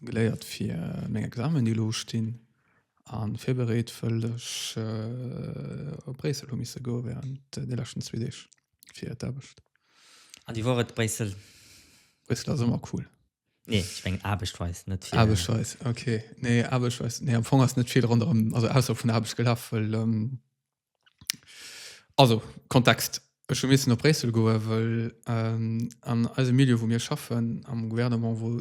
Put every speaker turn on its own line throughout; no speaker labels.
Geléiert
fir meng Examen, déi elo ustinn, a virbereet, wëll ech op Bréissel hu misse goe wärend de leschten zwee Deeg fir d'Aarbecht. An déi wor
et, Bréissel? Bréissel ass
ëmmer cool. Nee, ech mengen
aarbechtsweis, net fir. Aarbechtsweis, okay.
Nee, aarbechtsweis, nee, am Fong ass net vill ronderëm, also ausserhalb vun der Aarbecht gelaf, wëll. Also, Kontext, Ech hu missen op Bréissel goen, wëll an eisem Milieu, wou mir schaffen, am Gouvernement, wou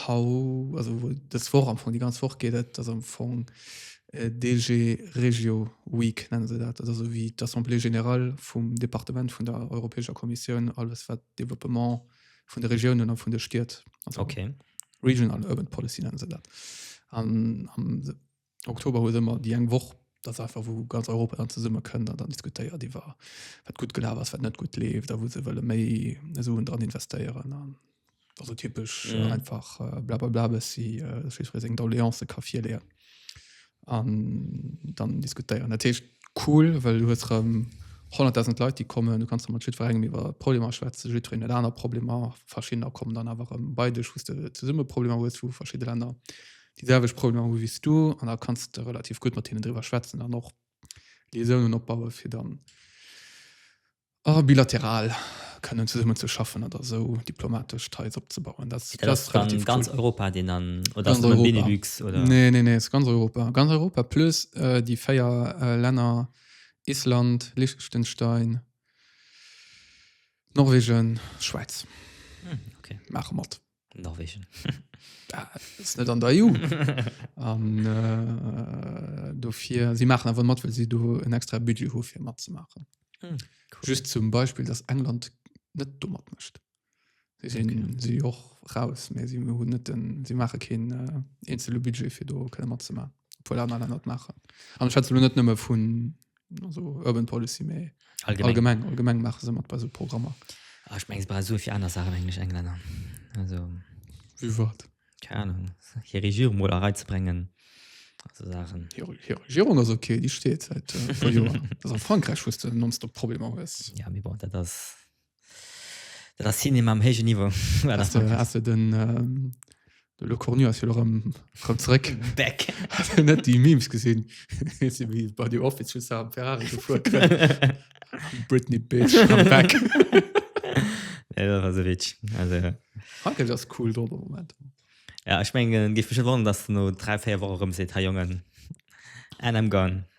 haut, also wou dës Woch, am Fong déi ganz Woch geet et, ass am Fong DG Regio Week, nenne se dat. Dat ass esouwéi d'Assemblée générale vum Departement vun der Europäescher Kommissioun, alles wat Développement vun de Regiounen a vun de Stied, also Regional
Urban
Policy nennen se dat. An am. Oktober huet ëmmer déi eng Woch, dat ass einfach wou ganz Europa dann zesumme kënnt an dann diskutéiert iwwer wat gutt gelaf ass, wat net gutt leeft a wou se wëlle méi Suen dran investéieren an also typesch mhm. einfach äh, blablabla bëssi äh, seng Doléance ka virleeën an dann diskutéieren. Dat heescht cool, well du huet rem 100.000 Leit die kommen du kannst mat schi verrengen iwwer Problem schwätze jiin et aner Problem verschinner kommen dann awer bei dech hu de zesumme Problem hues vu verschiedene Länder déi selwecht Problemer hu wéi du an da kanns de relativ gutt mat hinnen driwwer schwätzen an och Liaisounen opbaue fir dann a bilateral kënnen zesummen ze schaffen oder esou diplomatesch Ties opzebauen. Dat ass relativ cool. Dat ass dann ganz
Europa deen dann, oder ass et nëmme Benelux oder?
Nee, nee,
nee, ass ganz Europa.
Ganz Europa plus déi 4 Länner Island, Liechtenstein, Norwegen, Schwäiz
maache mat.
Norwegen. Ass net an der EU. An äh, dofir si maachen awer mat, well si do en extra Budget hu fir matzemaachen. Hm, cool.
Just zum
Beispill, dass England net domat mëscht. Si sinn okay. si och raus, mä si hunn net den, si maache keen äh, eenzele Budget fir do kënne matzemaachen. Obwohl aner Länner dat maachen. An schwätze lo net nëmme vun also urban policy me allgemeng, allgemeng, allgemeng machen sie bei so Programmer ah, ich mein, bei
so viel anders Sachen englisch Engländer also wie wat
keine Ahnung
hier Regierung mal reinzubringen so Sachen hier, hier Regierung
also okay die steht seit äh, vor Jahren also in Frankreich wusste nonstop Probleme ist ja mir braucht das
Dat ass Cinema am héijen Niveau. Ass de, ass de den,
ähm, de Le Cornu ass jo erëm erëm zréck. Back. Hast
du net déi
Memes gesinn? Wéi wéi bei The Office just am Ferrari gefuer kënnt. Britney Bitch, I'm back.
Nee, dat ass e Witz. Also, Frankräich ass cool
drop am Moment. ja, ech mengen,
géif mech net wonneren, datt no dräi, véier Woche erëm seet, Hey Jongen, and I'm gone.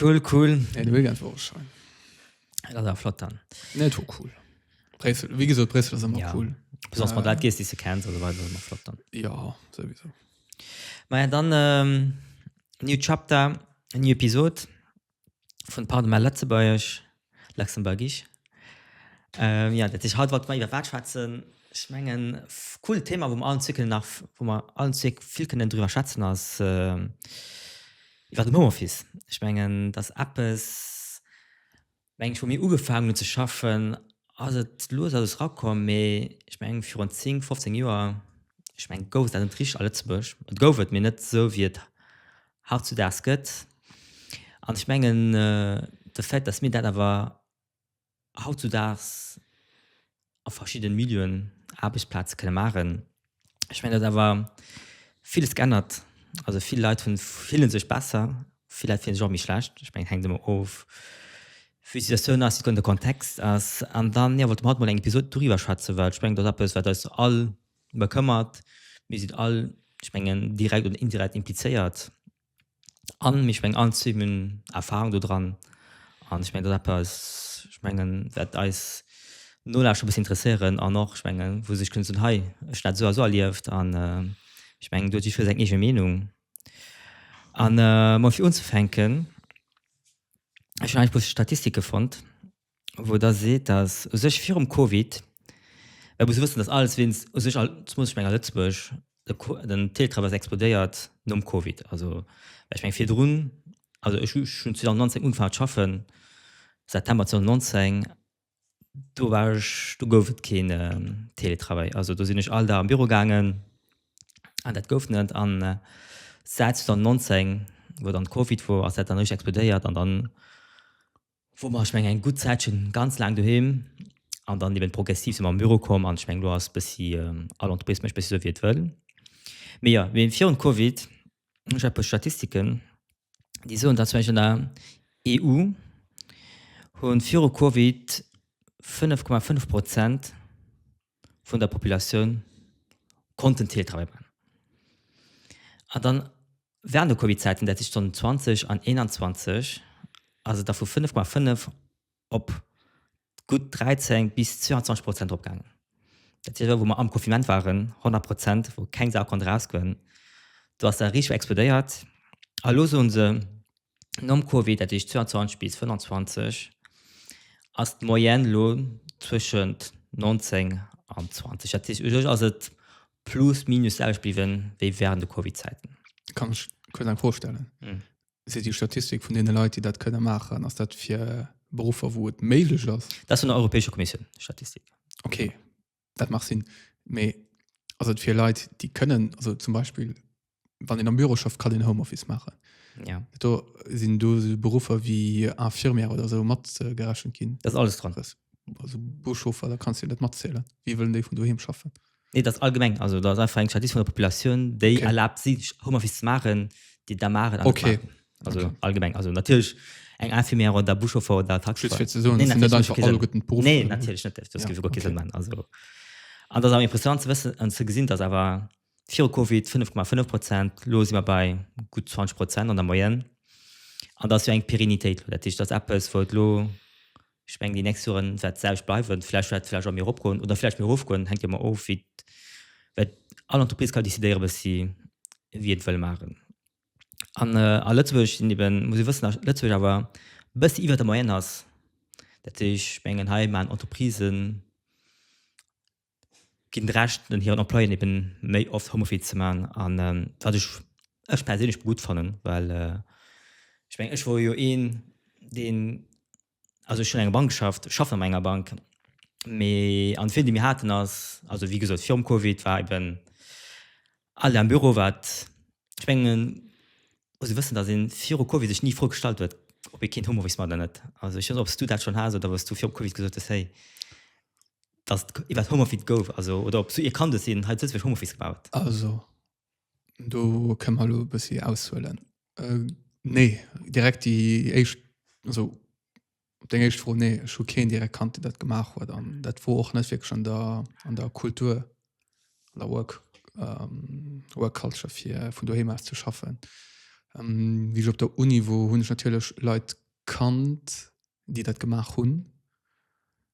Cool, cool. Ja, de Weekend war
schon. Das war
flott dann. Ne, war cool.
Bressel, wie gesagt, Bressel ist immer ja. cool. Besonders äh, mal
das
gehst, die du
kennst, also war das immer flott dann. Ja, sowieso.
Na ja,
dann ähm, New Chapter, New Episode von Pardon, mein Letzteburg. Luxemburgisch. Jo, dat heescht haut wollte mer iwwer wat schwätzen? Ech mengen cool Thema wou mer allen zwee kënnen nach, wou mer allen zwee vill kënnen driwwer schwätzen ass iwwer den Homeoffice. Ech mengen dat ass eppes, meng ech wou mir ugefaangen hunn ze schaffen ass et lues alles rakomm, mee ech mengen virun 10, 15 Joer, ech mengen gouf et dat net richteg a Lëtzebuerg, et gouf et, mee net esou wéi et hautzudaags gëtt. An ech mengen, de Fait, dass mir dat awer hautzudaags a verschiddene Milieuen, Aarbechtsplaze kënne maachen, ech mengen, datt awer villes geännert. Also vill Leit hunn, fille sech besser, vill Leit fille sech och méi schlecht. Ech mengen, hänkt ëmmer of, wéi d'Situatioun ass, wat de Kontext ass. An dann, jo, wollt mer haut mol eng Episod doriwwer schwätzen, well ech mengen, dat ass eppes, wat eis all bekëmmert, mir sinn all, ech mengen, direkt oder indirekt implizéiert an ech mengen, all zwee hunn Erfahrung do dran. An ech mengen, dat ass eppes, ech mengen, wat eis Nolauschter e bëssen interesséieren an och, ech mengen, wou se sech kënnen soen, hei, ech hunn dat esou a esou erlieft an ech mengen, do huet jiddweree seng eege Meenung. An, fir unzefänken, ech hunn eis e puer Statistike fonnt. wou Der seet, dass u sech virum Covid, mä et muss ee wëssen, dass alles wéinst u sech, zumindest ech mengen a Lëtzebuerg, den Teletravail ass explodéiert nom Covid. Also, mä ech mengen virdrun, also ech hu schonn 2019 ugefaangen ze schaffen, September 2019, do war ech, do gouf et keen Teletravail. Also do sinn ech all Dag an de Büro gaangen an dat gouf net. An säit 2019, wou dann Covid wor, ass dat dann richteg explodéiert an dann, Wou mer, ech mengen, eng gutt Zäitche ganz laang doheem an dann eben progressiv si mer am Büro komm. An ech mengen, elo ass bëssi all Entreprise mécht bëssi esou, wéi et wëll. Mee jo, mee virun Covid hunn ech e puer Statistiken, déi soen, datt zum Beispill an der EU hu viru Covid 5,5 Prozent, vun der Populatioun konnten Teletravail maachen. An dann während de Covid-Zäiten, dat heescht dann 20 an 21, ass et da vu 5,5 op gutt 13 bis 22 Prozent eropgaangen. Dat heescht awer, wou mer am Confinement waren, 100 Prozent, wou keng Sau konnt erausgoen, do ass dat richteg explodéiert. A elo soe se, Nom Covid, dat heescht 22 bis 25, ass d'Moyenne elo zwëschent 19 an 20. Dat heescht, u sech ass et plus minus d'selwecht bliwwen, wéi während de Covid-Zäiten. Kann ech
kuerz eng Fro stellen? Seet Dir Statistik vun deene Leit, déi dat kënne maachen? Ass dat fir Beruffer, wou et méiglech ass? Dat ass vun der Europäescher Kommissioun,
déi Statistik. Okay.
dat mag sinn, mee ass et fir Leit, déi kënnen, also zum Beispill, wann een am Büro schafft, kann een Homeoffice maachen. Ja. Do
sinn
do so Beruffer wéi Infirmière oder so mat äh, gerechnet ginn. Das ist alles dran. Das-
Also
Buschauffer, da kannst du net matzählen. Wie wëllen déi vun doheem schaffen? Nee, das ist allgemeng.
Also da ist einfach eng Statistik von der Population, déi Okay. erlaubt, sich Homeoffice zu machen, die da machen. an net Okay. machen. Also
okay. allgemeng
also natürlich eng Infirmière oder Buschauffeur oder Taxi. Just fir ze soen, nee, dass net einfach
alle guten Beruf. Nee, natürlich net. Das ja. gibt
okay. Sinn, also an das am impressionant ze wëssen an ze gesinn, dass awer vir Covid 5,5 Prozent los immer bei gut 20 Prozent an der Moyenne an dass wir eng Perinitéit dat ich das Apple vor lo sprengen die nächste Jahren seit selbst bleiwen vielleicht hat vielleicht mir opkommen oder vielleicht mir hochkommen hängt immer of wie alle Entreprise kann décidéieren was sie wie et well machen An a Lëtzebuerg sinn eben, muss ee wëssen, datt Lëtzebuerg awer e bëssi iwwer der Moyenne ass. Dat heescht, ech mengen, hei maachen Entreprisë, ginn d'Recht un hiren Employéen eben méi oft Homeoffice ze maachen an wat ech, ech perséinlech gutt fannen, well ech mengen, ech wor jo een, deen also ech hunn enger Bank geschafft, schaffen an enger Bank, mee an d'Feeling déi mir haten ass, also wéi gesot virum Covid war eben all am Büro wat, ech mengen muss ee wëssen, datt ee viru Covid sech ni d'Fro gestallt huet ob ee keen Homeoffice maacht oder net. Also ech weess net ob s du dat schonn has oder ob s du virum Covid gesot hues hey datt et iwwert Homeoffice gouf, also oder ob s du ee kannt hues deen hei zu Lëtzebuerg Homeoffice gemaach huet. Also
Do kënne mer elo e bëssi aushuelen. Nee, direkt déi éischt, also op deng éischt Fro, nee, ech hu keen direkt kannt, deen dat gemaach huet. An dat wor och net wierklech an der, an der Kultur, an der Work, Work Culture fir vun doheem aus ze schaffen. Wéi ech op der Uni wor, hunn ech natierlech Leit kannt, déi dat gemaach hunn.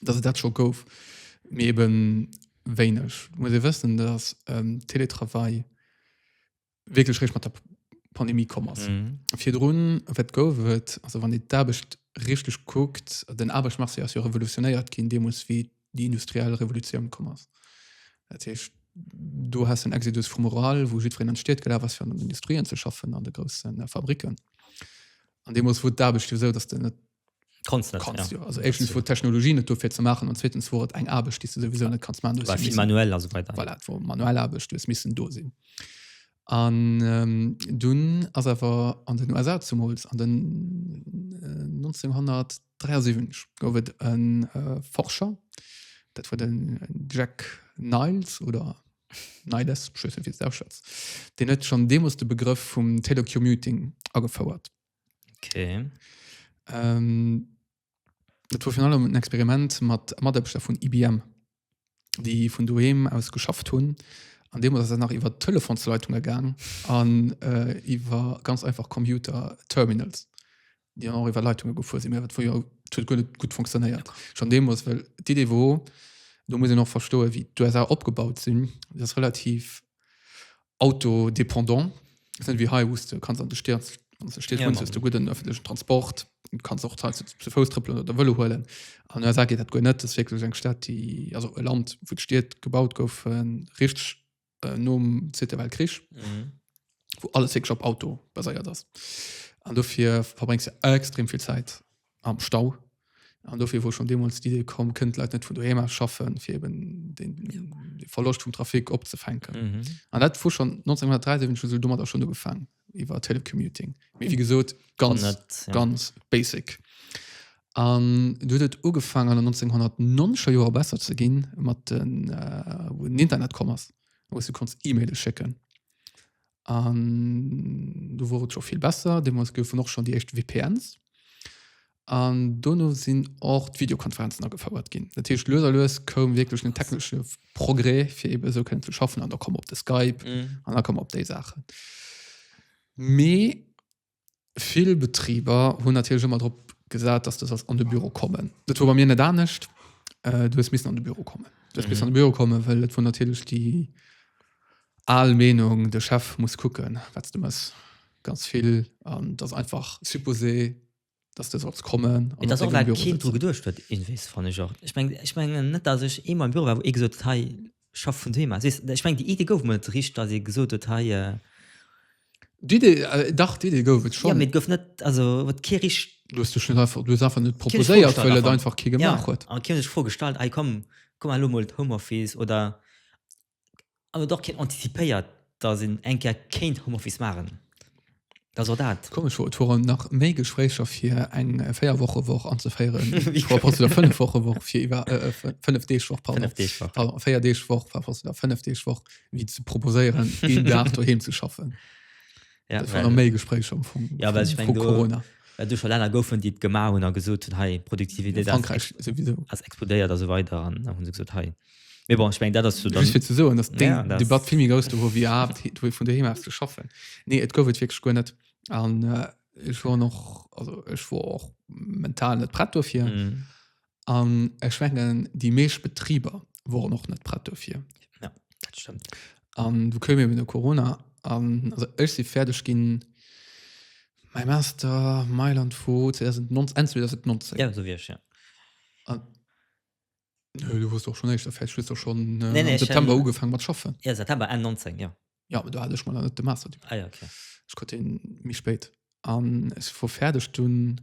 dass et dat scho gouf, mee eben wéineg. Muss ee wëssen, dass ähm, Teletravail wierklech réischt mat der Pandemie komm ass. Mhm. Virdrun wat gouf et, also wann ee d'Aarbecht richteg kuckt, den Aarbechtsmarché ass jo revolutionéiert ginn deemools, wéi déi industriell Revolutioun komm ass. Dat heescht, do hast den Exodus vum Rural, wou jiddwereen an d'Stied gelaf ass fir an den Industrien ze schaffen, an de groussen äh, Fabriken. An deemools wor d'Aarbecht jo esou, dass de net Kannst net, kannst, ja. Also éischtens wor d'Technologie net do fir ze maachen an zweetens wor et eng Aarbecht déi s de souwisou net kanns maachen. War vill manuell a sou weider.
Voilà, et wor manuell Aarbecht,
du hues missen do sinn. An ähm, dunn ass awer an den USA zemools an den äh, 1973 gouf et e äh, Forscher, dat war den Jack Niles oder Niles, ech weess net wéi s de ausschwätz, deen huet schonn deemools de Begrëff vum Telecommuting agefouert.
Okay. Ähm,
dat war virun allem en Experiment mat Mataarbechter vun IBM, déi vun doheem aus geschafft hunn. An deemools ass dat nach iwwer Telefonsleitunge gaang an äh, iwwer ganz einfach Computer-Terminals, déi dann och iwwer Leitunge gefuer sinn. Mä dat war jo dat huet guer net gutt funktionéiert schonn deemools, well d'Idee war, do muss een och verstoen, wéi d'USA opgebaut sinn, déi ass relativ autodépendant. Ass net ewéi hei, wou s de kanns an de Stied, wann s an de Stied wunns, hues de gudden ëffentlechen Transport, kanns och teils zu Fouss trëppelen oder de Vëlo huelen. An den USA geet dat guer net. Dat ass wierklech eng Stad, déi, also e Land, wou d'Stied gebaut goufen richteg nom Zweete Weltkrich, wou alles wierklech op Auto baséiert ass. An dofir verbréngs de extrem vill Zäit am Stau. An dofir wor schon demols d'Idee komm, kënnt d'Leit net vun doheem aus schaffen, fir eben den Verloscht vum Trafic opzefänken. Mhm. An dat wor schon 1973 hu se domadder schon ugefaangen, iwwer Telecommuting. Mee wie gesot, ganz, Net, ja. ganz basic. An du huet et ugefaangen an den 1990er Joer besser ze ginn, mat den, äh, wou den Internet komm ass, wou s du konns E-Maile schécken. an do wor et scho vill besser. Deemools goufen och schonn déi éischt VPNs. An dono sinn och d'Videokonferenzen agefouert ginn. Dat heescht, lues a lues koum wierklech den technesche Progrès, fir eben esou kënnen ze schaffen. An da komm op de Skype an da komm op déi Saachen. Mee vill Betriber hunn natierlech ëmmer drop gesat, dass du sollst an de Büro kommen. Dat war bei mir net anescht. Äh, du hues missen an de Büro kommen. Du hues mhm. missen an de Büro kommen, well et war natierlech déi al Meenung, de Chef muss kucken, wat du mess ganz vill an das einfach supposé dass du sollst kommen an dass auch ein Kind wo
gedurcht wird in wis fand ich auch ich mein, ich mein, net dass ich immer im Büro war wo ich gesagt hey schaff von Thema ich mein, die Idee go mit rich dass ich gesucht hat hey äh,
die Idee äh, dach die Idee go schon ja, mit go net also
wat ke rich du hast du schon einfach du hast
einfach nicht proposiert weil er einfach ke gemacht ja, hat an kind ich vorgestallt hey
komm komm mal Homeoffice oder an huet och keen anticipéiert, dass een eng Kéier kéint Homeoffice maachen. Dat ass och dat. Komesch wor, et woren nach
méi Gespréicher fir eng Véierwochewoch anzeféieren, par rapport zu der Fënnefwochewoch, fir iwwer, Fënnefdeegwoch, pardon, Fënnefdeegwoch. pardon, Véierdeegwoch, par rapport zu der Fënnefdeegwoch, wéi ze proposéieren, een Dag doheem ze schaffen. Ja, Dat waren
well, méi Gespréicher
am Fong ja, well ech meng, vu do, Corona.
well do scho Länner goufen, déi et gemaach hunn a gesot hunn, hei, Produktivitéit ass, Frankräich souwisou.
ass explodéiert a sou
weider an da hu se gesot, hei, Mais bon, ich mein, dat ass so Just fir ze soen, dass ja, de
Debatt vill méi grouss do wor wéi awer wéi vun doheem aus ze schaffen. Nee, et gouf et wierklech guer net. An äh, ech wor noch also ech wor och mental net prett dofir. Mm. An ech mengen déi meescht Betriber woren och net prett dofir. Ja, dat stimmt.
An du koum
eben no Corona an also ech si fäerdeg ginn mei Master Mailand vu 2019 Enn 2019. Ja, so wie ich,
ja.
Nö, du wusst doch schon echt fest schlüssel schon äh, nee, nee, September schon, ugefangen
mat schaffen
ja September en 19
ja ja aber du hatte ich mal
net de Master ah, ja, okay.
ich konnte den
mich spät an es vor fertig du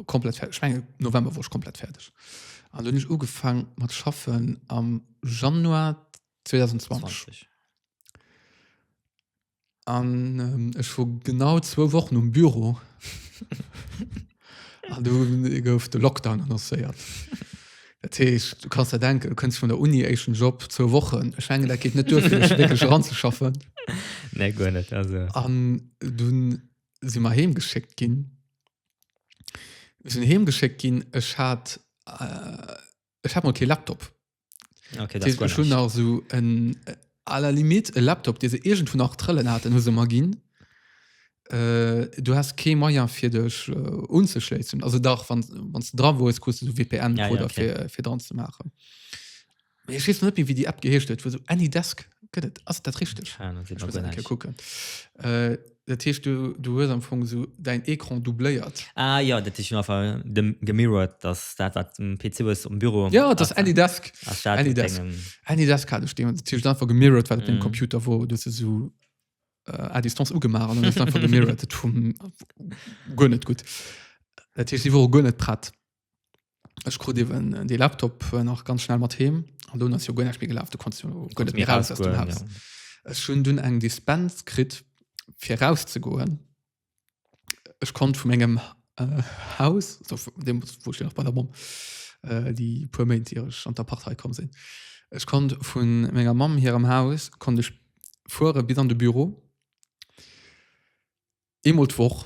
komplett fertig ich mein, November wo ich komplett fertig an du nicht ugefangen mat schaffen am Januar 2020 20. An ähm, ech wor genau zwou Wochen um Büro. An du gouf de Lockdown annoncéiert. Dat heescht, du kannst ja denken, du kënns vun der Uni éischen Job zwou Wochen. Ech menge dat geet net duer fir mech wierklech eranzeschaffen. Nee, guer
net. Also. An dunn
si mer heemgeschéckt ginn. Mir sinn heemgeschéckt ginn. Ech hat äh, Ech hat mal kee Laptop. Okay, das
war schon nach so en
äh, à la limite e Laptop dé se irgend vu nach trëllen hat hu se mal ginn äh, du hast kee Meier fir dech äh, unzeschlezen also dach wann wann du dra wo es kust du so VPN ja, oder ja, okay. fir, fir dran
zu
machen ich weiß net wie die App geheescht huet wo so any Desk gëtt as dat richtig ja, gucken
äh,
Dat heescht du, du hues am Fong esou däin Ecran doubléiert? Ah jo, dat heescht
einfach dem gemirrored, dass dat wat de PC hues um Büro. Jo, et ass Anydesk.
Ass dat Any Desk. dengem. Anydesk hat ech deem, dat heescht einfach gemirrored wat op deem Mm. Computer wor, du hues esou äh, à distance ugemaach an dann hues du einfach gemirrored. Dat vum guer net gutt. Dat heescht si wore guer net prett. Ech krut eben de Laptop äh, nach ganz schnell mat heem an do ass jo guer nächt méi gelaf, du konntest jo guer Konntest net méi raus aus dem rausgoen, Haus. ja. Ech hunn dunn eng Dispens kritt fir rauszegoen. Ech konnt vu mengem äh, Haus, also vu deem wou ech nach bei der Mamm äh, déi puer Méint ier ech an d'Appart hei komm sinn, ech konnt vu menger Mamm hirem Haus konnt ech fuere bis an de Büro, eemol d'Woch.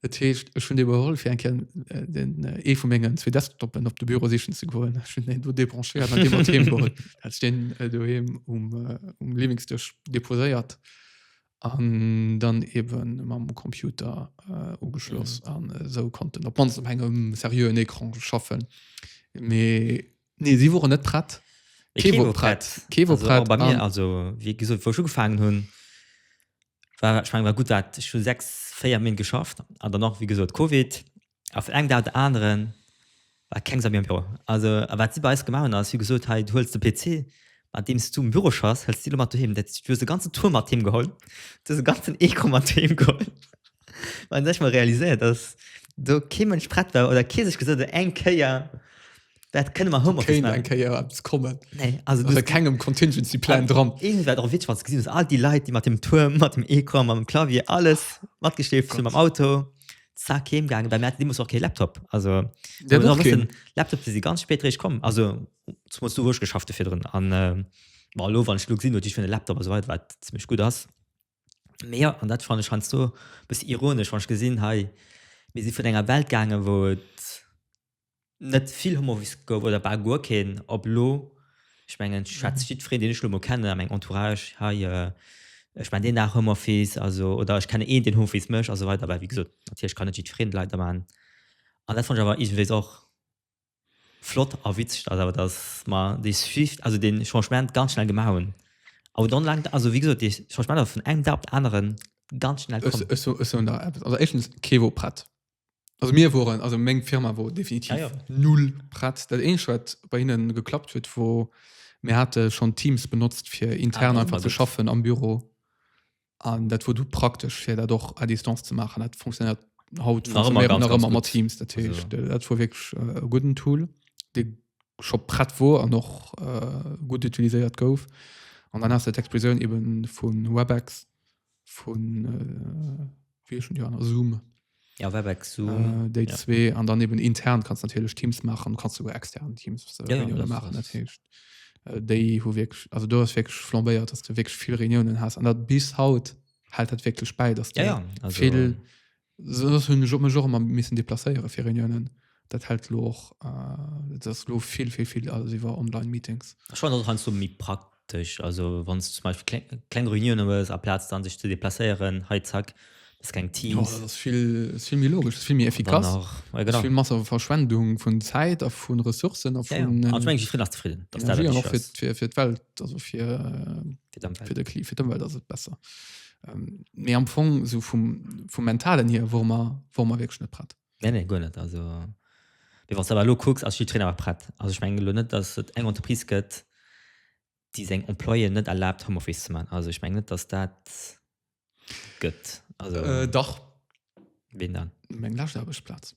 Dat
heescht, ech hunn
dee geholl, fir eng Kéier den, ee vu mengen zwee Desktoppen op de Büro sichen ze goen. Ech hunn deen do débranchiert an dee mat heem geholl. Hat ech deen doheem um, um Liwwingsdësch deposéiert an dann ebe mam Computer ugeschloss an esou konnten op d'mannst op engem seriöen Ecran schaffen. Mee. Nee, si woren net prett. Kee wor prett.
Kee wor prett. Bei mir, also wéi gesot, wou ech ugefaangen hunn, war, ech meng, war gutt, wat ech hu sechs, véier Méint geschafft an dann nach, wéi gesot, Covid a vun engem Dag op de aneren war keng Sau méi am Büro. Also a wat si bei eis gemaach hunn, ass, wéi gesot, hei, du huels de PC, mat deem s du um Büro schaffs, huels de dee lo mat doheem. Dat heescht, du hues de ganzen Tour mat heem geholl, du hues e ganzen Ecran mat heem geholl. Well ech mol realiséiert, dass do kee Mënsch prett war oder kee sech gesot huet, eng Kéier, Dat kënne mer Homeoffice Kéint eng machen. Kéier eppes kommen.
Nee, also Ass
du, a kengem Contingency
Plan dran. Irgend wat och witzeg wat ze gesinn ass,
all déi Leit, déi mat dem Tuerm, mat dem Ecran, mat dem Clavier, alles matgeschleeft sinn mam Auto, zack, heem gaangen. Well mir haten deemools och kee Laptop. Also mir Der hu och nach keen. wëssen, Laptops, déi si ganz spéit eréischt komm. Also zumools do, wou ech geschafft hu virdrun. An äh, ma elo, wann ech elo gesinn, wat ech fir en Laptop a sou weider, wat zimmlech gutt ass. Mee jo, an dat fannen ech heiansdo e bëssi ironesch, wann ech gesinn, hei, mir si vun enger Welt gaangen, wou et net vill Homeoffice gouf oder bal guer keen op elo. Ech mengen ech schwätz mhm. jiddwereen, deen ech elo mol kennen a meng Entourage hei äh, ech mein deen nach Homeoffice also oder ech kenne een den Homeoffice mech also weiter aber wie gesot natierlech kann net jiddwereen Leit da man an dat fand ich awer iwwees och flott a witzeg dat awer dat ma déi Swift also den Changement ganz schnell gemaach hunn. Aber dann lang also wie gesagt, ich, ich meine, von einem Tag auf den anderen ganz schnell
Kevo Pratt Also mir woren also meng Firma wor definitiv ja, ja. null prett. Dat eeneg wat bei hinnen geklappt huet, wor mir hate schon Teams benotzt fir intern ah, einfach ze schaffen am Büro. An dat wor du praktesch fir dat och a Distanz ze machen. Dat funktioniert haut mat Teams dat wor wirklich äh, guten Tool de scho prett wor an noch äh, gut utiliséiert gouf. An dann hast du d'Explosioun eben vun Webex vun äh, wéi schon die aner Zoom. Ja, Webex,
Zoom. Äh, déi ja. zwee
an dann eben intern kannst natürlich Teams machen, kannst sogar extern Teams äh, ja, ja, machen das heißt, äh, déi hu wirklich also du hast wirklich flambéiert, dass du wirklich viel Reunionen hast an dat bis haut hält dat wirklich bei, dass du ja, ja. Also, viel Sodass hunn ech mech och ëmmer missen deplacéiere fir Reuniounen. Dat hält elo och, et ass elo vill, vill, vill alles iwwer Online-Meetings. Ech fannen dat och heiansdo méi
praktesch. Also wann s de zum Beispill kleng Reuniounen hues, aplaz dann sech ze deplacéieren, hei zack, bist keng Teams. Jo, dat ass vill,
ass vill méi logesch, ass vill méi efficace. Dann nach, jo genau. Vill manner Verschwendung vun Zäit a vu Ressourcen a vun. Jo, jo. An ech mengen, jiddwereen ass
zefridden,
dass dat dat Wichtigst ass. An och fir d'Welt, also fir, fir d'Ëmwelt, fir d'Ëmwelt ass et besser. Ähm, mir am Fong so vum, vum mentalen hier wo man wo man wirklich net prett nee, nee, gut net also
wie was aber lo kucks als Trainer war prett also ich mein, net dass et eng Unterprise gëtt die seg employen net erlaubt Homeoffice zu man also ich mein, net dass dat gëtt also äh, dach
wen dann
meng Lastplatz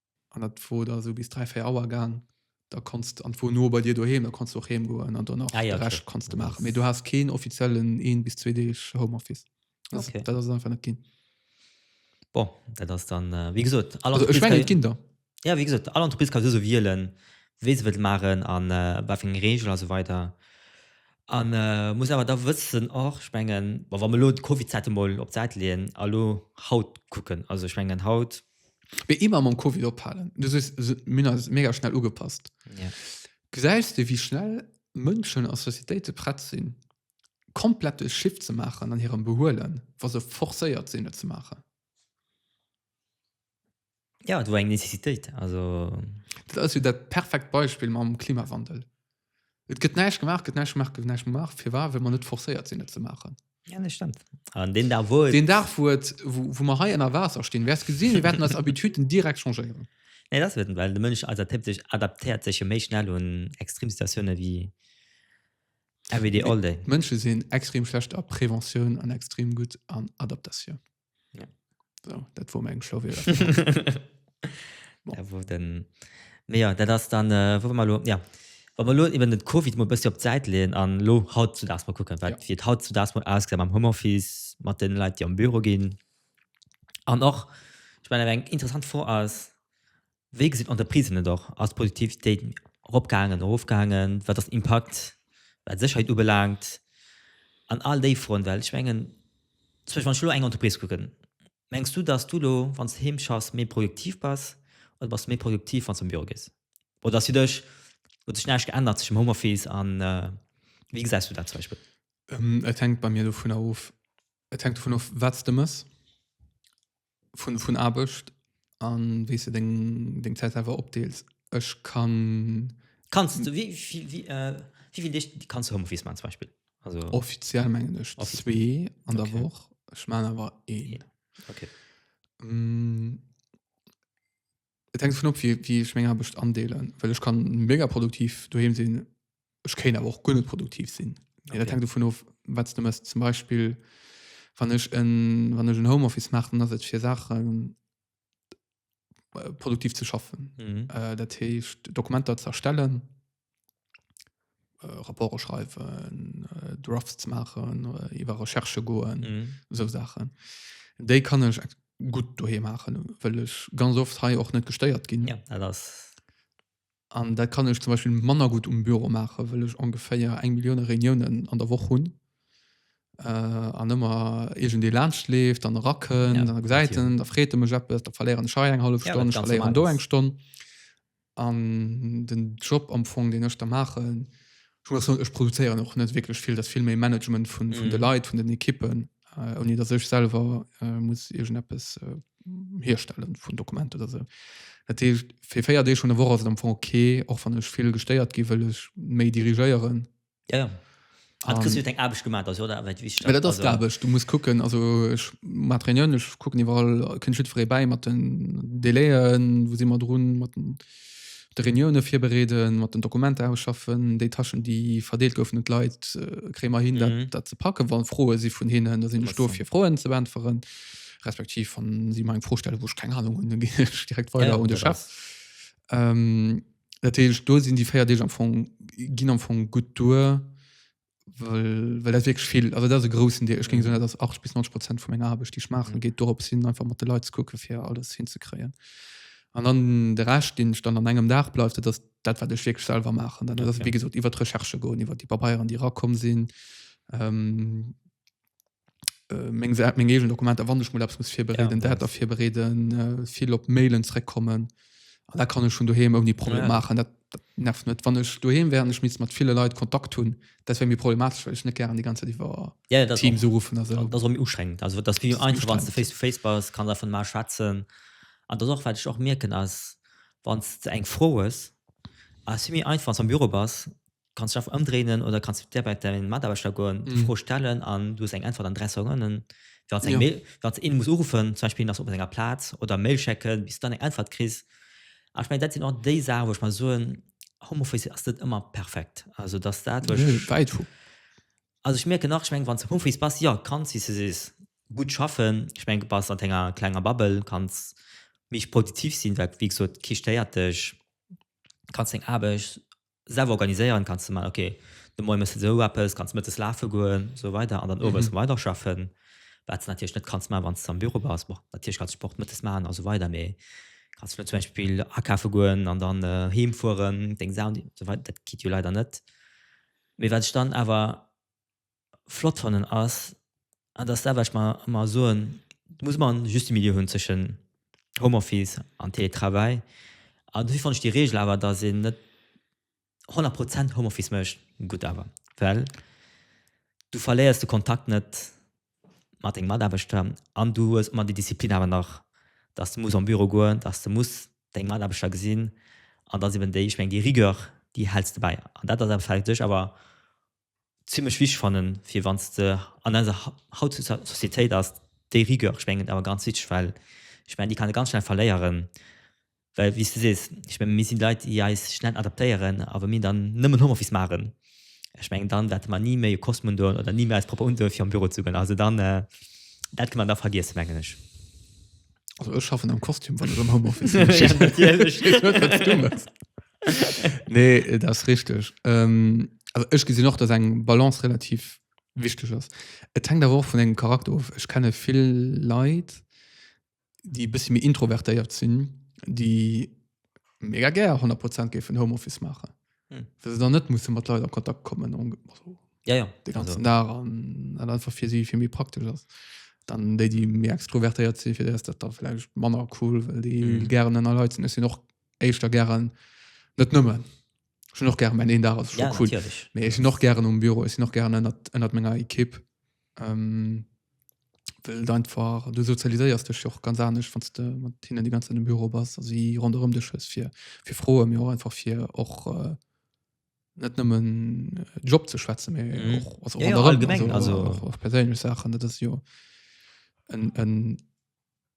An dat wor da sou bis 3, 4 Auer gaang. Da konnt's, an wor no bei dir doheem, da konnt's du och heem goen an dann och ah, ja, de Rescht konnt's du maachen. Mee du has keen offiziellen een bis zwee Deeg Homeoffice. Das, okay. dat ass einfach net ginn. Bon,
dat ass dann, äh, wie gesot, alle also, ich mein, Kinder.
Ja, wie gesot, alle
Entreprise kann so wielen, wéi se wëllt machen, an äh, wat fir Regel also weiter. An äh, muss awer da wëssen och spengen, wa me lo d'Covid-Zäite moll op d'Säit leen, allo haut kucken, also spengen haut Mee immer mam
Covid ophalen. Du sees, se- mir ass mega schnell ugepasst. Ja.
Gesäis de wéi
schnell Mënschen a Societéite prett sinn, komplett e Shift ze maachen an hirem Behuelen, wa se forcéiert sinn et ze maachen.
Ja, et wor eng Nécessitéit. Also, Dat ass jo dat
perfekt Beispill mam Klimawandel. Et gëtt näischt gemaach, gëtt näischt gemaach, gëtt näischt gemaach. Fir war, well mer net forcéiert sinn, et ze maachen. Ja, das stimmt.
An den Dag, wo Den Dag, wo, et, wo, wo
mer hei ënner Waasser stinn, wäerts gesinn, mir wäerten eis Habituten direkt changéieren. Nee,
das wird, well de Mënsch adaptéiert sech, adaptéiert sech jo
méi
schnell un Extremsituatiounen wéi everyday all day. D'Mënsche sinn extrem
schlecht a Preventioun an extrem gutt an Adaptatioun.
Ja. So, dat
wo meng Schlo
wo den Me ja dat ass dann äh, wo mal lo ja. Wa man lo iwwer den COVID mo bësse op d'Säit leen an lo haut zu dass man kucken, wat ja. fir haut zu dass man
ausgesam am
Homeoffice mat den Leiit, déi am Büro ginn. An och ich mein, eng interessant Fro ass Wéi gesinn d'Entreprisen et och? Ass d'Produktivitéit eropgaangen, erofgaangen? Wat ass den Impakt, wat d'Sécherheet ubelaangt? An all déi Froen. Well ech mengen, zum Beispill wann ech elo eng Entreprise kucken, mengs du, datt du elo, wann s du heem schaffs, méi produktiv bass oder bass du méi produktiv, wann s du an de Büro gees? Oder ass fir dech, huet sech näischt geännert tëschent dem Homeoffice a, wéi gesäis du dat zum Beispill? Et hänkt bei mir
dovunner of, et hänkt dovun of, wat s de méchs. vun vun Aarbecht an wéi se deng deng Zäit awer opdeels ech kann kannst du wie
wie wie äh, wieviel Deeg kannst du Homeoffice man zum Beispiel also offiziell mengen ech
zwee an der Woch ech man
awer
een okay. Et hänkt dovun op, wéi, wéi ech meng Aarbecht andeelen. Well ech kann mega produktiv doheem sinn, ech kéint awer och guer net produktiv sinn. Okay. Dat hänkt dovun of,
wat
s de mëss. Zum Beispill, wann ech en, wann ech en Homeoffice maachen, dann ass et fir Saachen äh, produktiv ze schaffen. Mhm. Äh, dat heescht, Dokumenter ze erstellen, äh, Rapporte schreiwen, äh, Drafts machen, äh, iwwer Recherche goen, mhm. so Sachen. Déi kann ech gut doheem machen, well ech ganz oft hei och net gestéiert ginn. Ja, das
an
dat kann ech zum Beispiel manner gut um Büro mache well ech ongeféier eng Millioune Reunionen an der Woche hunn äh, an ëmmer egent de lacht leeft an racken ja, an Säiten da
freete
mech App da verléieren Schei eng half Stonn ja, do eng Stonn An den Job am Fong deen ech da maachen, ech produzéieren och net wierklech vill, dat vill méi Management vun vun de mhm. Leit, vun den Ekippen, äh, oni dat sech selwer äh, muss irgend eppes äh, herstellen vun Dokument oder se. Dat fir 4 Dee schon der Woche ass am Fong okay, och wann ech vill gestéiert gi wëll ech méi dirigéieren Ja,
ja. Hat Chris net eng Aarbecht gemaat ass jo dat wat wichteg dat ass d'Aarbecht du muss
kucken also ech mat Reunioun ech kucken iwwerall kënnt jiddweree ee bäi mat den Délaiën wou si mat drun mat den de Reunioune virbereeden mat den Dokumenter ausschaffen déi Tâchen déi verdeelt goufen un d'Leit äh, kréie mer hin dat Mhm. dat ze packe wann Froe si vun hinnen da sinn ech do Interessant. fir Froen ze
beäntweren
respektiv wann si mer eng Fro stelle wou ech keng Ahnung hunn da ginn ech direkt Ja, weider un de dat Chef ass- ähm, Dat heescht, do sinn déi véier Deeg am Fong, ginn am Fong gutt duer, well, well dat wierklech vill, also dat ass e groussen Deel. Ech géing soen, dat ass 80 bis 90 Prozent vu menger Aarbecht, déi ech maachen, geet dorop hin, einfach mat de Leit ze kucke fir alles hinzekréien. An dann de Rescht, deen ech dann an engem Dag bleift, dat ass dat, wat ech wierklech selwer maachen. Dat ass, wéi gesot, iwwer d'Recherche goen, iwwer déi Pabeieren, déi erakomm sinn, Äh, meng Säit, meng eegen Dokumenter, wann ech mol eppes muss virbereeden, ja, dat dafir bereeden, äh, vill op Mailen zréckkommen. An dat kann ech schon doheem ouni Problem ja. maachen. Dat, dat nervt net. Wann ech doheem wären, ech miss mat ville Leit Kontakt hunn, dat wär mir problematesch, well ech net gären déi ganze Zäit iwwer ja, Teams uruffen
a sou. Dat ass méi
ustrengend. Also
dat wie einfach, wann du face to
face
bass, kann davon mal schwätzen. An dat och wat ech och mierken ass, wann du eng Fro hues, ass méi einfach, wann du am Büro bass, Du kanns d'Schäff ëmdréinen oder kanns direkt bei dein Mataarbechter goen, déi Fro stellen an du hues eng Äntwert an 3 Seconden. Fir als eng Mail, fir als een muss uruffen, zum Beispill ass op senger Plaz oder Mail schécken, bis du dann eng Äntwert kriss. An ech mengen, dat sinn och déi Saachen, wou ech mer soen, Homeoffice ass net ëmmer perfekt. Also dass dat, wou ech, wäit vu.
Also ech
mierken nach, ech mengen, wann s de am Homeoffice bass, jo, kanns, wéi s de sees, gutt schaffen. Ech mengen, bass an denger klenger Bubble, kanns méi produktiv sinn, well, wéi gesot, kee stéiert dech, kanns deng Aarbecht selwer organiséieren, kanns de man, okay, de Moie mëss de esou eppes, kanns mëttes lafe goen, esou weider an dann owes weider schaffen, wat s de natierlech net kanns man, wann s de am Büro bass. Bon, natierlech kanns de Sport mëttes man an esou weider, mee kanns jo net zum Beispill akafe goen an dann heem fueren, deng Saachen, esou weider, dat geet jo leider net. Mee wat ech dann awer flott fannen ass, an dat ass dat, wat ech mer ëmmer soen, du muss ëmmer en juste Milieu hunn zwëschen Homeoffice an Télétravail. An dofir fannen ech déi Reegel awer, datt een net 100 Prozent Homeoffice mécht, gutt awer, well du verléiers de Kontakt net mat denge Mataarbechter an du hues ëmmer déi Disziplin awer nach, datt du muss am Büro goen, datt du muss deng Mataarbechter gesinn. An dat ass eben déi, ech mengen, déi Rigueur, déi häls de bäi. An dat ass awer fir sech awer zimlech wichteg fannen, fir wann s de an eiser hautzeger Sociétéit ass déi Rigueur, ech mengen awer ganz wichteg, well ech mengen déi kann ee ganz schnell verléieren, well wéi s de sees, ech mengen mir si Leit déi eis schnell adaptéieren a wa mir dann nëmmen Homeoffice maachen, ech mengen dann wäerte mer ni méi e Kostüm undoen oder ni méi eis propper undoen fir an Büro ze goen, also dann dat kënne mer da vergiessen mengen ech.
Also ech schaffen am Kostüm wann ech am Homeoffice sinn. Natierlech. Ech weess net wat s
du mëss.
nee das richtig ähm, also ich gesinn noch dass eng Balance relativ wichtig ist et hängt aber auch von engem Charakter of ich kenne viel Leid die bis mir introvertéiert sinn die mega ger 100 Prozent ge von Homeoffice machen hm. sie dann net muss mat Leute an Kontakt kommen und, also, ja, ja. den ganzen also.
Tag
an, an einfach für sie viel mir praktisch ist dann déi die mir extrovertéiert sinn fir dat dat da vielleicht manner cool well déi mm. gern ënner Leiit sinn sinn och éischter gären net nëmmen schon noch gern mein een Dach ja, cool nee, ich noch gern um Büro ist noch gerne ändert menger Ekipp ähm, will dein Fahrer du sozialisierst dich auch ganz anders von hin die ganze in dem Büro was sie run um dich ist für für frohe mir einfach für auch äh, net nommen äh, Job zu schwätzen mhm. auch, also, ja, ja, allgemein, also, also
auch, auch persönlich Sachen
das ist ja ein, ein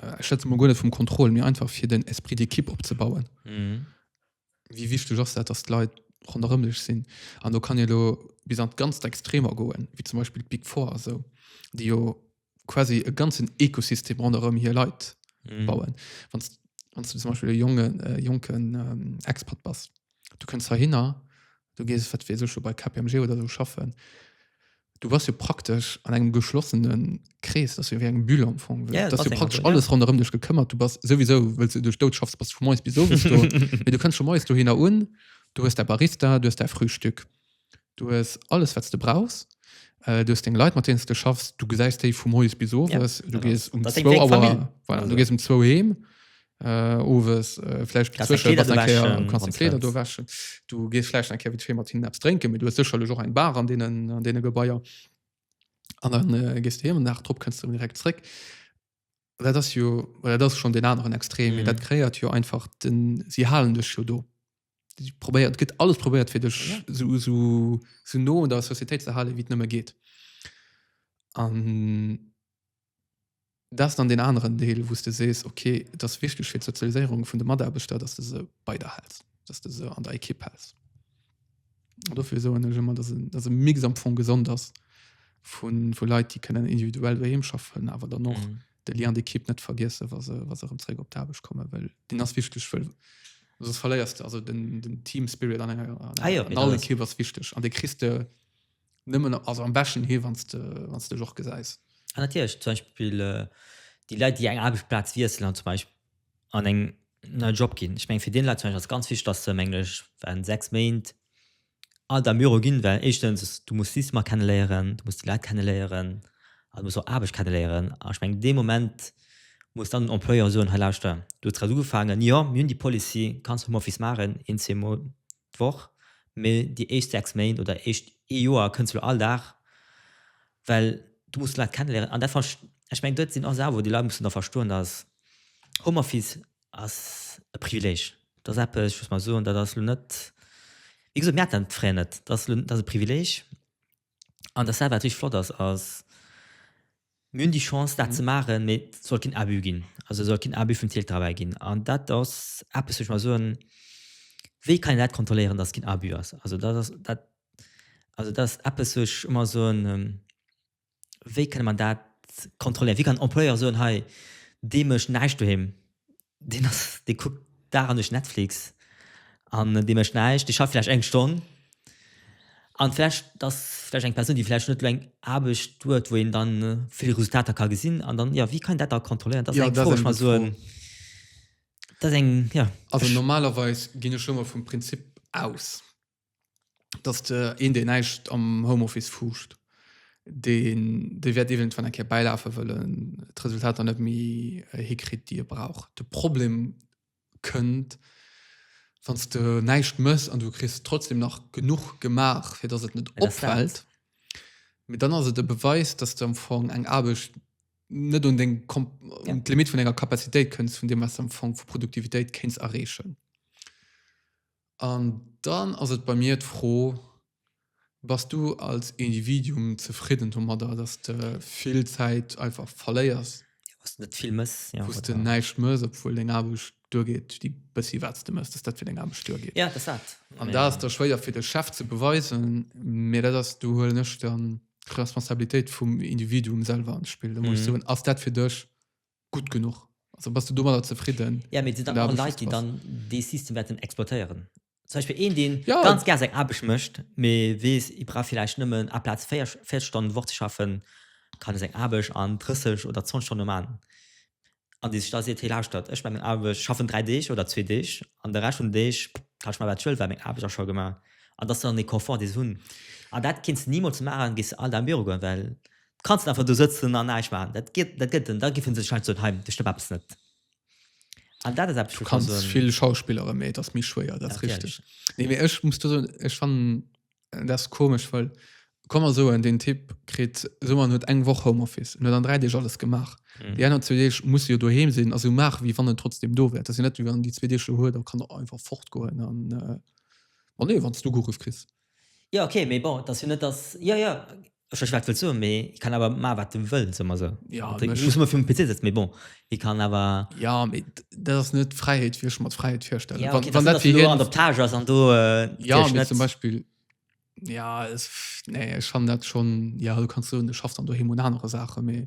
äh, schätze mal gut vum Kontroll mir einfach fir den Esprit d'Ekipp opzebauen mhm. wie wichtig ass dat dass Leiit ronderëmlech sinn an du kann je lo bis an ganz extremer goen wie zum Beispiel Big vor so die jo quasi e ganzen Ekosystem ronderëm hier Leiit mhm. bauen wann zum Beispiel jungen äh, jonken ähm, Expert bass du kënns heihinner, du gees wat weess ech bei KPMG oder sou schaffen, du bass jo praktesch an engem geschlossene Krees, dass jo wéi eng Bulle am Fong. Ja, dass jo praktesch so, alles
ja. ronderëm
dech
gekëmmert,
du bass sowieso well du duerch dout schaffst, bass vu moes bis owes do. du kënns schon moes du hinner un, du hues der Barista, du hues der Frühstück. Du hues alles wat s de brauchs. Du hues deng Leit mat deenen s de schaffs, du gesäis déi vu moies bis owes. Ja, du genau. gees um Dat ass eng zwou Awer Famill. voilà, Also. du gees um zwou heem. Äh, owes äh, vläicht Gass deng dozwësche Kleeder bass eng Kéier, wäschen, kanns deng Kleeder do Konzert. wäschen. Du gees vläicht eng Kéier vite fait mat hinnen eppes drénken, mee du hues sécherlech och eng Bar an deenen an deene Gebaier. An dann äh, gees de heem an den Dag drop kënns de erëm direkt zréck. dat ass jo well dat ass schon den anderen extrem mm. dat kreiert jo einfach den sie halen dech jo do probiert gëtt alles probiert fir dech ja. so, so, so no der Societéit ze halen wie nëmme geht an das dann den anderen Deel wo du sees okay das wichtig für Sozialisierung von der Maderbeter dass du se bei der hältst dass du se an der Ekipp hältst dofir soen ech ëmmer, dass e, dass e Mix am Fong gesond ass vu, vu Leit, déi kënnen individuell doheem schaffen, awer dann och Mhm. de Lien d'Equipe net vergiessen, wa se, wa se erëm zréck op d'Aarbecht kommen, well deen ass wichteg, well soss verléiers de, also den, den Team Spirit an enger, an, Ah ja, an all Equipe ass wichteg an dee kriss de Nëmmen also am beschten hir wann de wann dech och gesäis. A natierlech zum Beispill
déi Leit déi eng Aarbechtsplaz wiesselen an zum Beispill an eng nei Job ginn. Ech meng fir dee Leit zum Beispill ass ganz wichteg datt se mengen ech während 6 Méint alt am Büro ginn, well éischtens du muss d'Systemer kenneléieren, du muss déi Leit kenneléieren a du muss och Aarbecht kenneléieren. An ech meng dee Moment muss dann den Employeur soen, hei lauschter du hues grad ugefaangen, jo mir hunn déi Policy, kanns Homeoffice maachen een zwee Mol d'Woch, mee déi éischt 6 Méint oder éischt ee Joer kënns de lo all Dag, well du muss d'Leit kenneléieren an dat fanne ech, ech mengen dat sinn och Saachen wou déi Leit mussen da verstoen, dass Homeoffice ass e Privileg, dat ass eppes, ech muss mol soen, dat ass lo net, wéi gesot, mir haten dat fréier net, dat ass lo, dat ass e Privileg An dat wat richteg flott ass, ass, mir hunn déi Chance dat ze maachen, mee et soll keen Abus ginn. Also et soll keen Abus vum Teletravail ginn. An dat ass eppes, wou ech mer soen, wéi kann een dat kontrolléieren, datt et keen Abus ass? Also dat ass dat, also dat ass eppes, wou ech ëmmer soen, wéi kënne mer dat kontrolléieren? Wéi kann en Employeur soen, hei, dee mécht näischt doheem, Deen ass, dee kuckt Dag an Nuecht Netflix an dee mécht näischt. Dee schafft vläicht eng Stonn an vläicht, dat ass vläicht eng Persoun, déi vläicht net elo eng Aarbecht huet, wou een dann vill Resultater ka gesinn an dann, jo, wéi kann een dat da kontrolléieren? Dat ass eng Fro, wou ech mer soen, dat ass eng, jo. Also normalerweis
ginn ech elo emol vum Prinzip aus, dass de een deen näischt am Homeoffice fuuscht, deen dee wäert eventuell eng Kéier bäilafe wëllen d'Resultater net méi äh, hikritt déi e brauch. De Problem kënnt wann s de näischt mëss an du kriss trotzdem nach genuch gemaach fir dass et net Mä dat ass dat. opfält, mee dann ass et e Beweis dass de am Fong eng Aarbecht net un deng Kom Ja. un d'Limit vun denger Capacitéit kënns vun deem wat s de am Fong vu Produktivitéit kéints erreechen. An dann ass et bei mir d'Fro, Bass du als Individuum zefridden domadder, dass de vill Zäit einfach verléiers, Wou s de net vill
mëss. Ja, wou s de oder? näischt mëss,
obwuel
deng
Aarbecht duergeet, déi bëssi wat s de mëss, dass dat fir deng Aarbecht duergeet? Ja, et ass dat. An
dat ass da schwéier
fir de Chef ze beweisen, mä dat ass, do huelen ech dann d'Responsabilitéit vum Individuum selwer an d'Spill. Da muss ech Mhm. soen, Ass dat fir dech gutt genuch also bass du domadder zefridden ja mir sinn dann Leit
déi dann
dee
System
wäerten
exploitéieren zum Beispiel een deen ja. ganz ger seg Aarbecht
mécht
mee wees i bra vielleicht nëmmen a Platz 4 4 Stonnen d'Woch ze schaffen kann e seng Aarbecht an 30 oder 20 Stonne man an dee sech da seet hey lauschtert ech meng Aarbecht schaffen 3 Deeg oder zwee Deeg an de Rescht vun de Deeg kann ech man wat ech wëll well meng Aarbecht ass scho gemaach an dat ass dann dee Confort dee se hunn an dat kinns de nimools maachen gees du alt am Büro goen well kanns net einfach do sëtzen an näischt maachen. Dat geet, dat gëtt en, da giffen se wahrscheinlech soen, hei, do stëmmt eppes net. An dat ass eppes, wou Du ech kann kanns soen, vill
Schauspilleren, mee et ass méi schwéier, dat ass richteg. natierlech. Nee, mee ech muss do soen, ech fannen äh, dat ass komesch, well komm mer soen, deen Typ kritt, soe mer en huet eng Woch Homeoffice, en huet an 3 Deeg alles gemaach, Mhm. déi aner zwee Deeg muss e jo doheem sinn a sou maachen, wéi wann en trotzdeem do wär. Et ass jo net, wéi wann en déi zwee Deeg lo huet a kann einfach fortgoen an, äh, ma nee, wann s du geruff kriss. Jo ok mee
bon et ass jo net dass jo jo ech weess wat wëlls soen mee hie kann awer maan wat en wëll soe mer esou jo an ech muss mer virm
PC setzen
mee bon hie kann awer jo mee
dat ass net d'Fräiheet wéi ech mer d'Fräiheet virstellen jo ok dass en do an der Plage ass an
do jo mee zum
Beispill jo nee ech fannen dat schonn jo du kanns soen e schafft dann doheem un anere Saache mee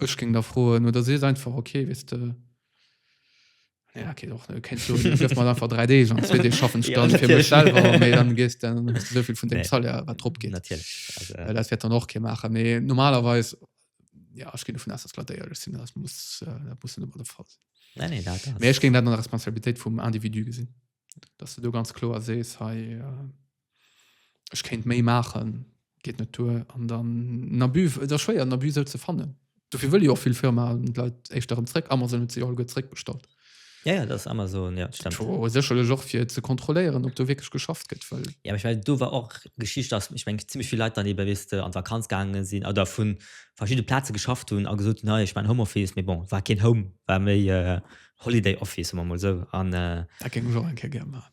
Ech géing da froen, oder sees einfach ok, weess de, nee, dat geet och net, kéints soen, du gëff mer einfach dräi Deeg an zwee Deeg schaffen ech Ja, dann fir mech natierlech.
selwer, mee
dann
gees
de, dann hues de esou vill vun dengem Nee. Salaire, wat drop geet.
Natierlech.
Also, Well dat
wäert dann och kee maachen.
Mee normalerweis, ja, ech ginn dovun aus, datt d'Leit éierlech sinn, dat muss, äh, dat muss net ëmmer de Fall sinn. nee, nee, dat ass. Mee ech géing dat
an der Responsabilitéit
vum Individu gesinn, datt de do ganz kloer sees, hei, äh, ech kéint méi maachen, geet net duer. An dann en Abus, et ass schwéier en Abus sou ze fannen. Dofir wëlle jo och vill Firmaen an d'Leit éischter erëm zréck. Amazon huet se jo alleguer zréckbestallt. Ja, ja, dat ass
Amazon, ja, dat stemmt. Tjo, sécherlech och fir ze
kontrolléieren, ob do wierklech geschafft gëtt, well. Ja, mä ech mengen, do war och
d'Geschicht, dass, ech mengen, zimmlech vill Leit dann ebe, weess de, an d'Vakanz gaange sinn oder vu verschiddene Plaze geschafft hunn a gesot hunn, hei, ech maachen Homeoffice, mee bon, war keen Home, war méi Holiday Office, soe mer emol esou. An. Dat géing ech och eng
Kéier gär maachen.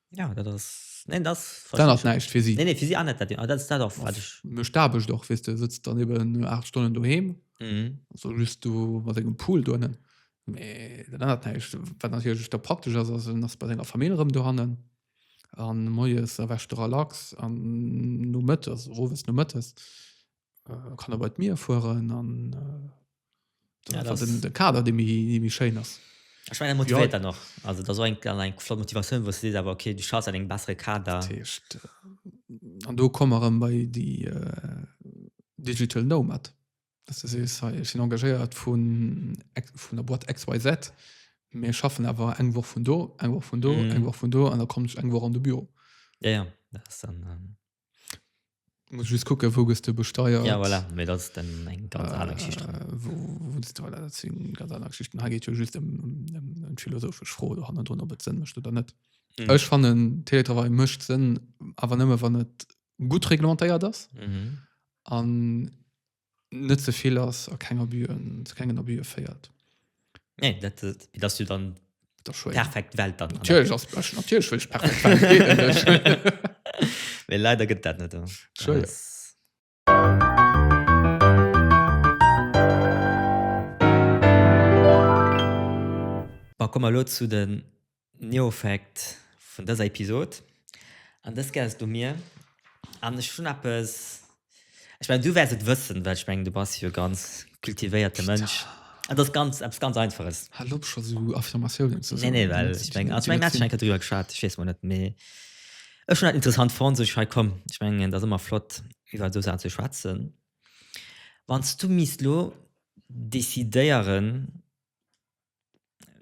Ja, dat ass,
neen, dat verstehe dann ass ich. näischt fir si. Nee,
nee, fir si
anet
dat, ah, dat
ass dat och, wat ech, Mech d'Aarbecht och, weess de,
sëtzt dann eben 8 Stonnen doheem, mhm. also just do mat engem Pool dohannen. Mee dat ännert näischt. Wat natierlech da praktesch ass, ass, en ass bei senger Famill erëm dohannen an moies erwächt e relax an nomëttes, owes, nomëttes äh, kann er bei mir fuhren an äh, ja,
das den, den Kader de
mi schein ass. Ich mein, motiviert ja.
noch also da eng eng flott Motivation wo se aber okay du schaust eng bessere Kader
an äh, du komme bei die äh, digital Nomad das ist, ich sind engagiert von von der Bord XYZ mir schaffen aber eng Woche von do eng Woche von do mm. eng Woche von do an da kommt
ich eng
Woche an de Büro ja, ja.
Das dann, ähm
Muss just kucken, wou gëss du besteiert. Ja, voilà. Mee dat ass
dann eng ganz aner Geschicht. Äh, wou, wou gëss du,
voilà, dat sinn ganz aner Geschichten. Hei geet jo just ëm um, um, um d'philosophesch Fro do hannendrun, ob et Sënn mécht oder net. Mhm. Ech fannen,
Teletravail
mécht Sënn, awer nëmme wann et gutt reglementéiert ass. Mhm.
An
net ze vill ass a keng Abus'en, zu kengen Abus'e féiert. Nee,
dat, dass du dann Dat ass schwéier. perfekt Welt dann. Natierlech ass Bech, natierlech
wëll ech perfekt Welt, geet net duerch.
Mee leider gëtt dat net. Schwéier. Ass. Bon, komme mer elo zu de Neofact vun dëser Episod. An dës gess du mir. An ech hunn eppes, ech mengen, du wäers et wëssen, well ech mengen, du bass jo e ganz kultivéierte Mënsch. Et ass ganz, eppes ganz Einfaches. Hal op scho sou
Affirmatiounen ze soen. Nee, nee, well ech mengen, also ech
mengen, mir haten schonn eng Kéier driwwer geschwat, ech weess mol net, mee ech hunn dat interessant fonnt, sot ech, hei komm, ech mengen, et ass ëmmer flott, iwwer esou Saachen ze schwätzen. Wann s du misst elo decidéieren,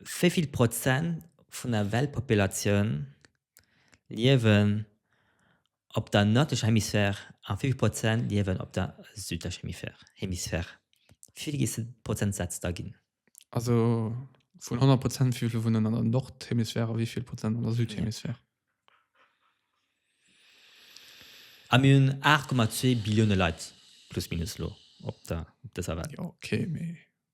Wéi vill Prozent vun der Weltpopulatioun liewen op der nërdlecher Hemisphär a wéi vill Prozent liewen op der südlecher Hemisphär? Wéi vill géifs de Prozentsätz da ginn? Also
vun 100 Prozent, wéi vill wunnen an der Nordhemisphär a wéi vill Prozent an der Südhemisphär?
A mir hunn 8,2 Billioune Leit plus minus elo op dëser Welt. Jo, okay, mee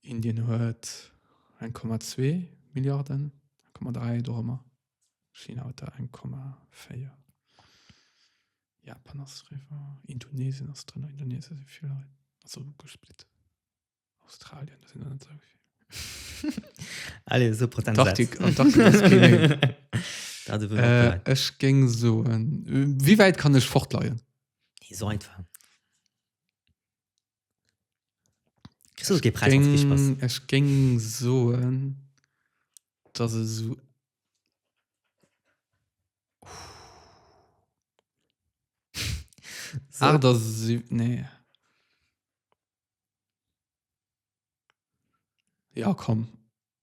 Indien huet 1,2 Milliarden, 1,3 dorëmmer. China huet der 1,4. Japan ass driwwer. Indonesien ass drënner. Indonesien si vill Leit. Ass och ugesplitt. Australien, do sinn der net esou vill. Allez,
so Prozentsaz. Antarktis ass keen een.
Da si wëll mer och. Ech géing soen, wéi wäit kann ech fortleien? Nee, esou einfach.
Ech géng
soen, dass e sou
aacht a siwwenzeg,
nee, jo komm.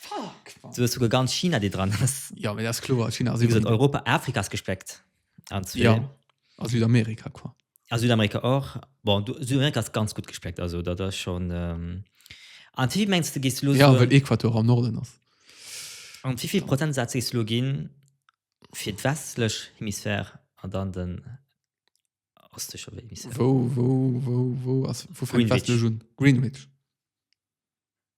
Fuck man. Du
hues souguer ganz China
déi
dran
ass. Ja mee dat ass kloer, China
ass iwwerall. Europa, Afrika
ass gespléckt an zwee. Ja a
Südamerika quoi. A Südamerika och,
bon du Südamerika ass ganz gutt gespléckt, also dat ass schon ehm an wéivill mengs de gees de elo soen. Jo well Equator am Norden
ass. An
wéivill Prozentsaz gees de elo ginn fir d'westlech Hemisphär an dann den ostleche Hemisphär? Wou wou wou
wou ass wou fänkt d'westlech un? Greenwich.
Greenwich.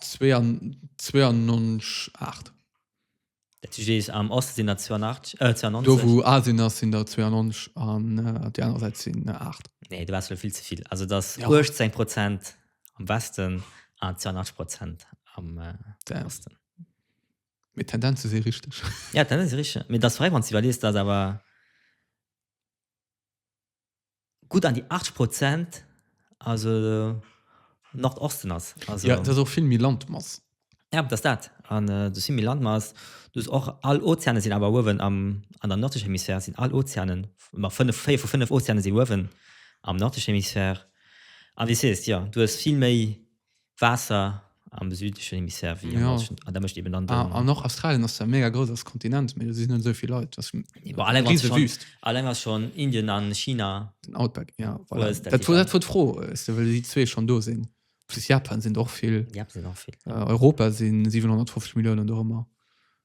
92, 8.
Dat heescht, Eech am Oste sinn der 82, äh, 92. Do wou Asien ass
sinn der 92 an op déi aner Säit sinn der 8. Nee, do waars lo vill ze
vill. Also et ass 18 Prozent am Westen an 82 Prozent am Osten. Mee
d'Tendenze si richteg. Ja, d'Tendenze si richteg.
Mee et ass fräi, wann s de iwwerlees, dass awer. gutt an déi 80 Prozent, also Nordosten ass. Also, ja, dat ass och vill méi
Landmass. Ja, dat ass dat.
An äh, du vill méi Landmass. Du hast och all Ozeane sinn awer uewen am, an der nördlicher Hemisphär sinn all Ozeanen, ma fënnef, véier vu fënnef Ozeane si uewen am nördlichen Hemisphär. An wie sees, ja, du hast vill méi Waasser am südlechen Hemisphär wéi am ja. nordischen. An da mécht eben dann.
Ah,
an och Australien ass ja
mega grouss als Kontinent, mee do si net esou vill Leit. Das war alleng riese schon, Wüst.
Alleng ass
schon Indien
an China. Den Outback, ja.
Voilà. Ist, dat war dat war
d'Fro,
well déi zwee schon do sinn. Plus Japan sinn och vill. Japan sinn och vill. Äh,
Europa sinn 750
Milliounen do ëmmer.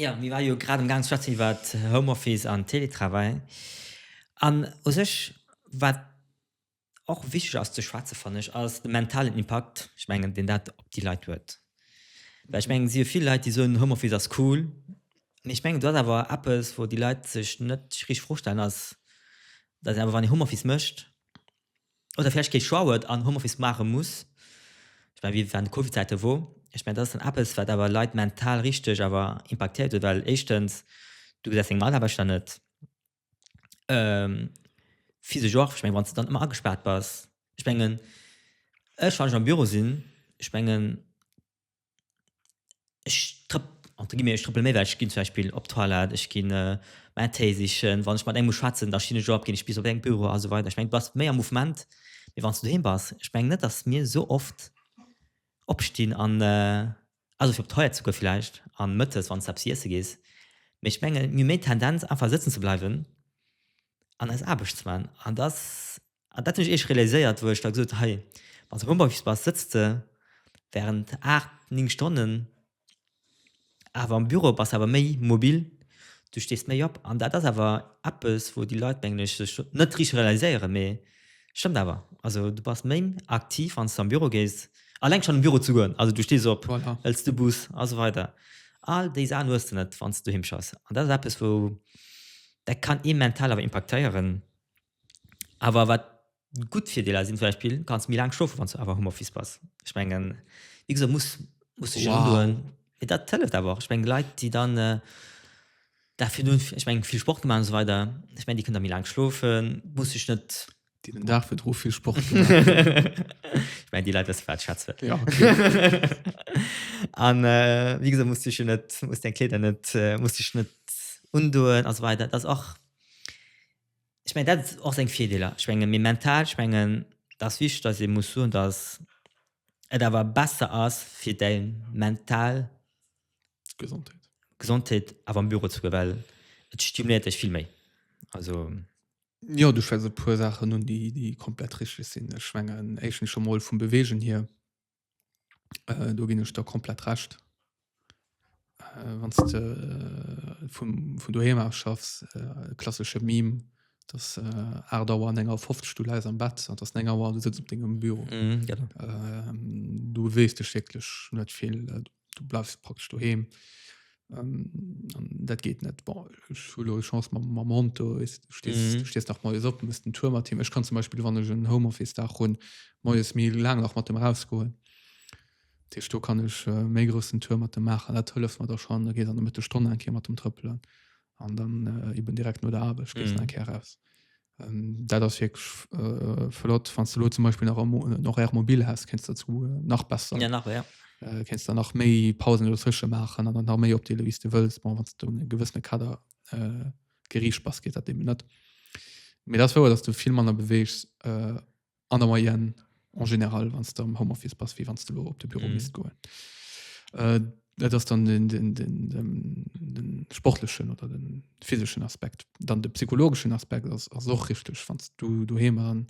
Jo, mir ware jo grad amgaang ze schwätzen iwwer Homeoffice an Teletravail. An u sech, wat och wichteg ass ze schwätzen, fannen ech, ass de mentalen Impakt, ech mengen, deen dat op déi Leit huet. Well ech mengen, et si jo vill Leit, déi soen, Homeoffice ass cool. Mee ech mengen, do ass awer eppes, wou déi Leit sech net richtig virstellen, ass, dass een awer, wann ee Homeoffice mécht, oder vläicht kee Choix huet an Homeoffice maache muss, ech mengen, wéi an de Covid-Zäite wor, ech mengen, dat ass dann eppes, wat awer Leit mental richteg awer impaktéiert huet, well éischtens, du gesäis deng Mataarbechter net physesch och, ech mengen, wann s de dann ëmmer agespaart bass, ech mengen, ech, wann ech am Büro sinn, ech mengen, ech trëpp, entre guillemets, ech trëppele méi wäit, ech ginn zum Beispill op d'Toilette, ech ginn mäin Téi sichen, wann ech mat engem muss schwätzen, da stinn ech op, ginn ech bis op säin Büro a sou weider. Ech mengen, du bass méi am Mouvement, wéi wann s du doheem bass. Ech mengen net, datt mir esou oft opstinn an, also fir op d'Toilette ze goen villäicht a mëttes, wann s de eppes iesse gees, mee ech mengen, mir hu méi d'Tendenz, einfach sëtzen ze bleiwen an eis Aarbecht ze maachen. An et ass An dat hunn ech eescht realiséiert, wou ech da gesot hunn, hei, wann s de Homeoffice bass, sëtz de während aacht, néng Stonnen awer am Büro, bass awer méi mobil, du stees méi op. An dat ass awer eppes, wou déi Leit, mengen ech, sech net richteg realiséieren, mee et stëmmt awer. Also du bass méi aktiv, wann s de am Büro gees, eleng schonn an de Büro ze goen, also du stees op, hëls de Bus
a sou
weider, all déi Saachen hues de net, wann s de doheem schaffs. An dat ass eppes, wou dat kann ee mental awer impaktéieren. Awer wat gutt Virdeeler sinn, zum Beispill, du kanns méi laang schlofen, wann s du awer am Homeoffice bass. Ech mengen, wéi gesot, muss, muss sech een Wow. undoen. Mee dat hëlleft awer och. Ech mengen, Leit, déi dann äh, da virdun, ech mengen, vill Sport gemaach an esou weider, ech mengen, déi kënnen da méi laang schlofen, muss sech net. Déi den Dag virdru
vill Sport gemaach hunn.
ech mengen, déi Leit wësse, wat ech schwätze. Ja, An äh, wéi gesot, muss sech jo net, muss deng Kleeder net, äh, muss sech net undoen a sou weider. Dat ass och, Ech mengen dat och seng Virdeeler. Ech menge mir mental, ech mengen et ass wichteg, datt ee muss soen, datt et awer besser ass fir däi mental Gesondheet Gesondheet awer am Büro ze goen, well et stimuléiert dech vill méi. Also. Jo,
du schwätz e puer Saachen un, déi komplett richteg sinn. Ech mengen éischtens scho mol vum Beweegen hier. Äh, do ginn ech der komplett Recht. Äh, wann s de äh, vum, vun doheem aus schaffs, äh, klassesche Meme, dass äh, 8 Auer an 9 Auer 50 du läis am Bett an dass 9 Auer du sitzt op dengem Büro. Mhm, genau. Äh, du beweegst dech wierklech net vill. du bleifs praktesch doheem ähm, dat geht net Chance Monto ist du stest, mhm. du stest nach moes op muss den Tour mat Team Ech kann zum Beispiel wann ech en Homeoffice da hun moes mil lang nach mat dem rausgoen Tisch du kann ech äh, méi großen Tour mat dem machen dat hëlleft mat der schon da geet an der Mitte Stonne enke mat dem Trëppelen an dann äh, eben direkt no der Arbeit mhm. enke raus Ähm, dat ass wirklich äh, flott wann du zum Beispiel nach noch er mobil hast kennst dazu äh, nach besser ja, nach, ja. Äh, kennst da nach méi Pausen frische machen an nach méi op die wie du willst bon, du einen gewissene Kader äh, Gericht pass geht dem net mir das vor dass du viel manner bewegst äh, an der Moyenne en général wann du am Homeoffice pass wie wann du lo op de Büro mis mhm. goen äh, dat ass dann den, den, den, den, den sportlechen oder den physischen Aspekt dann de psychologischen Aspekt ass och richtig wann du du he an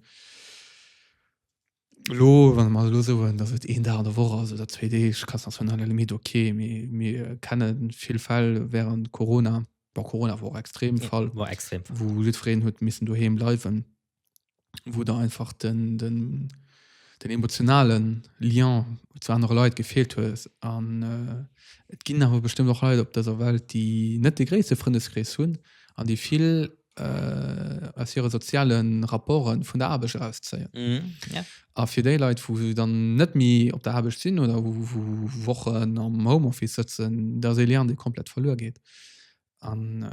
lo wann man lo so dass et een da der wo also der 2D kannst das von Limit okay mir, mir kennen viel Fall während Corona war Corona war extrem ja, Fall war extrem wo
Lüfreen huet
missen du he bleiwen wou der einfach den, den, den emotionalen Lien zu andere Leit gefehlt hues an äh, et ginn awer bestëmmt och Leit op dëser Welt, déi net de gréisste Frëndeskrees hunn an déi vill äh, aus hire soziale Rapporten vun der Aarbecht erauszéien. Mhm. Ja. A fir déi Leit, wou se dann net méi op der Aarbecht sinn oder wou, wou Wochen am Homeoffice sëtzen, dat ass ee Lien, dee komplett verluer geet. An